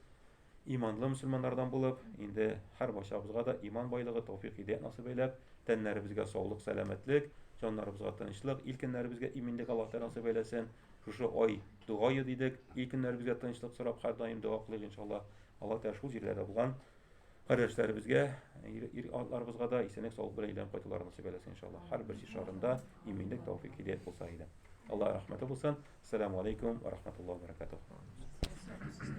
Speaker 1: Иманлы мөселманнардан булып, инде һәрбарчабызга да иман байлыгы, тәүфик-һидәят насыйп әйләп, тәннәребезгә саулык-сәламәтлек, җаннарыбызга тынычлык, ил көннәребезгә иминлек Аллаһ Тәгалә насыйп әйләсен. Шушы ай дога йөз дидек, ил көннәребезгә тынычлык сорап һәрдаим дога кылыйк иншаллаһ. Аллаһ Тәгалә шул җирләрдә булган кардәшләребезгә, ир-атларыбызга да исәнлек саулык белән әйләнеп кайтуларын насыйп әйләсен иншаллаһ. Һәрбер җир шарында иминлек, тәүфик-һидәят булса иде. Аллаһ рәхмәте булсын. Ассаламу алейкум ва рахматуллаһи ва баракатуһ.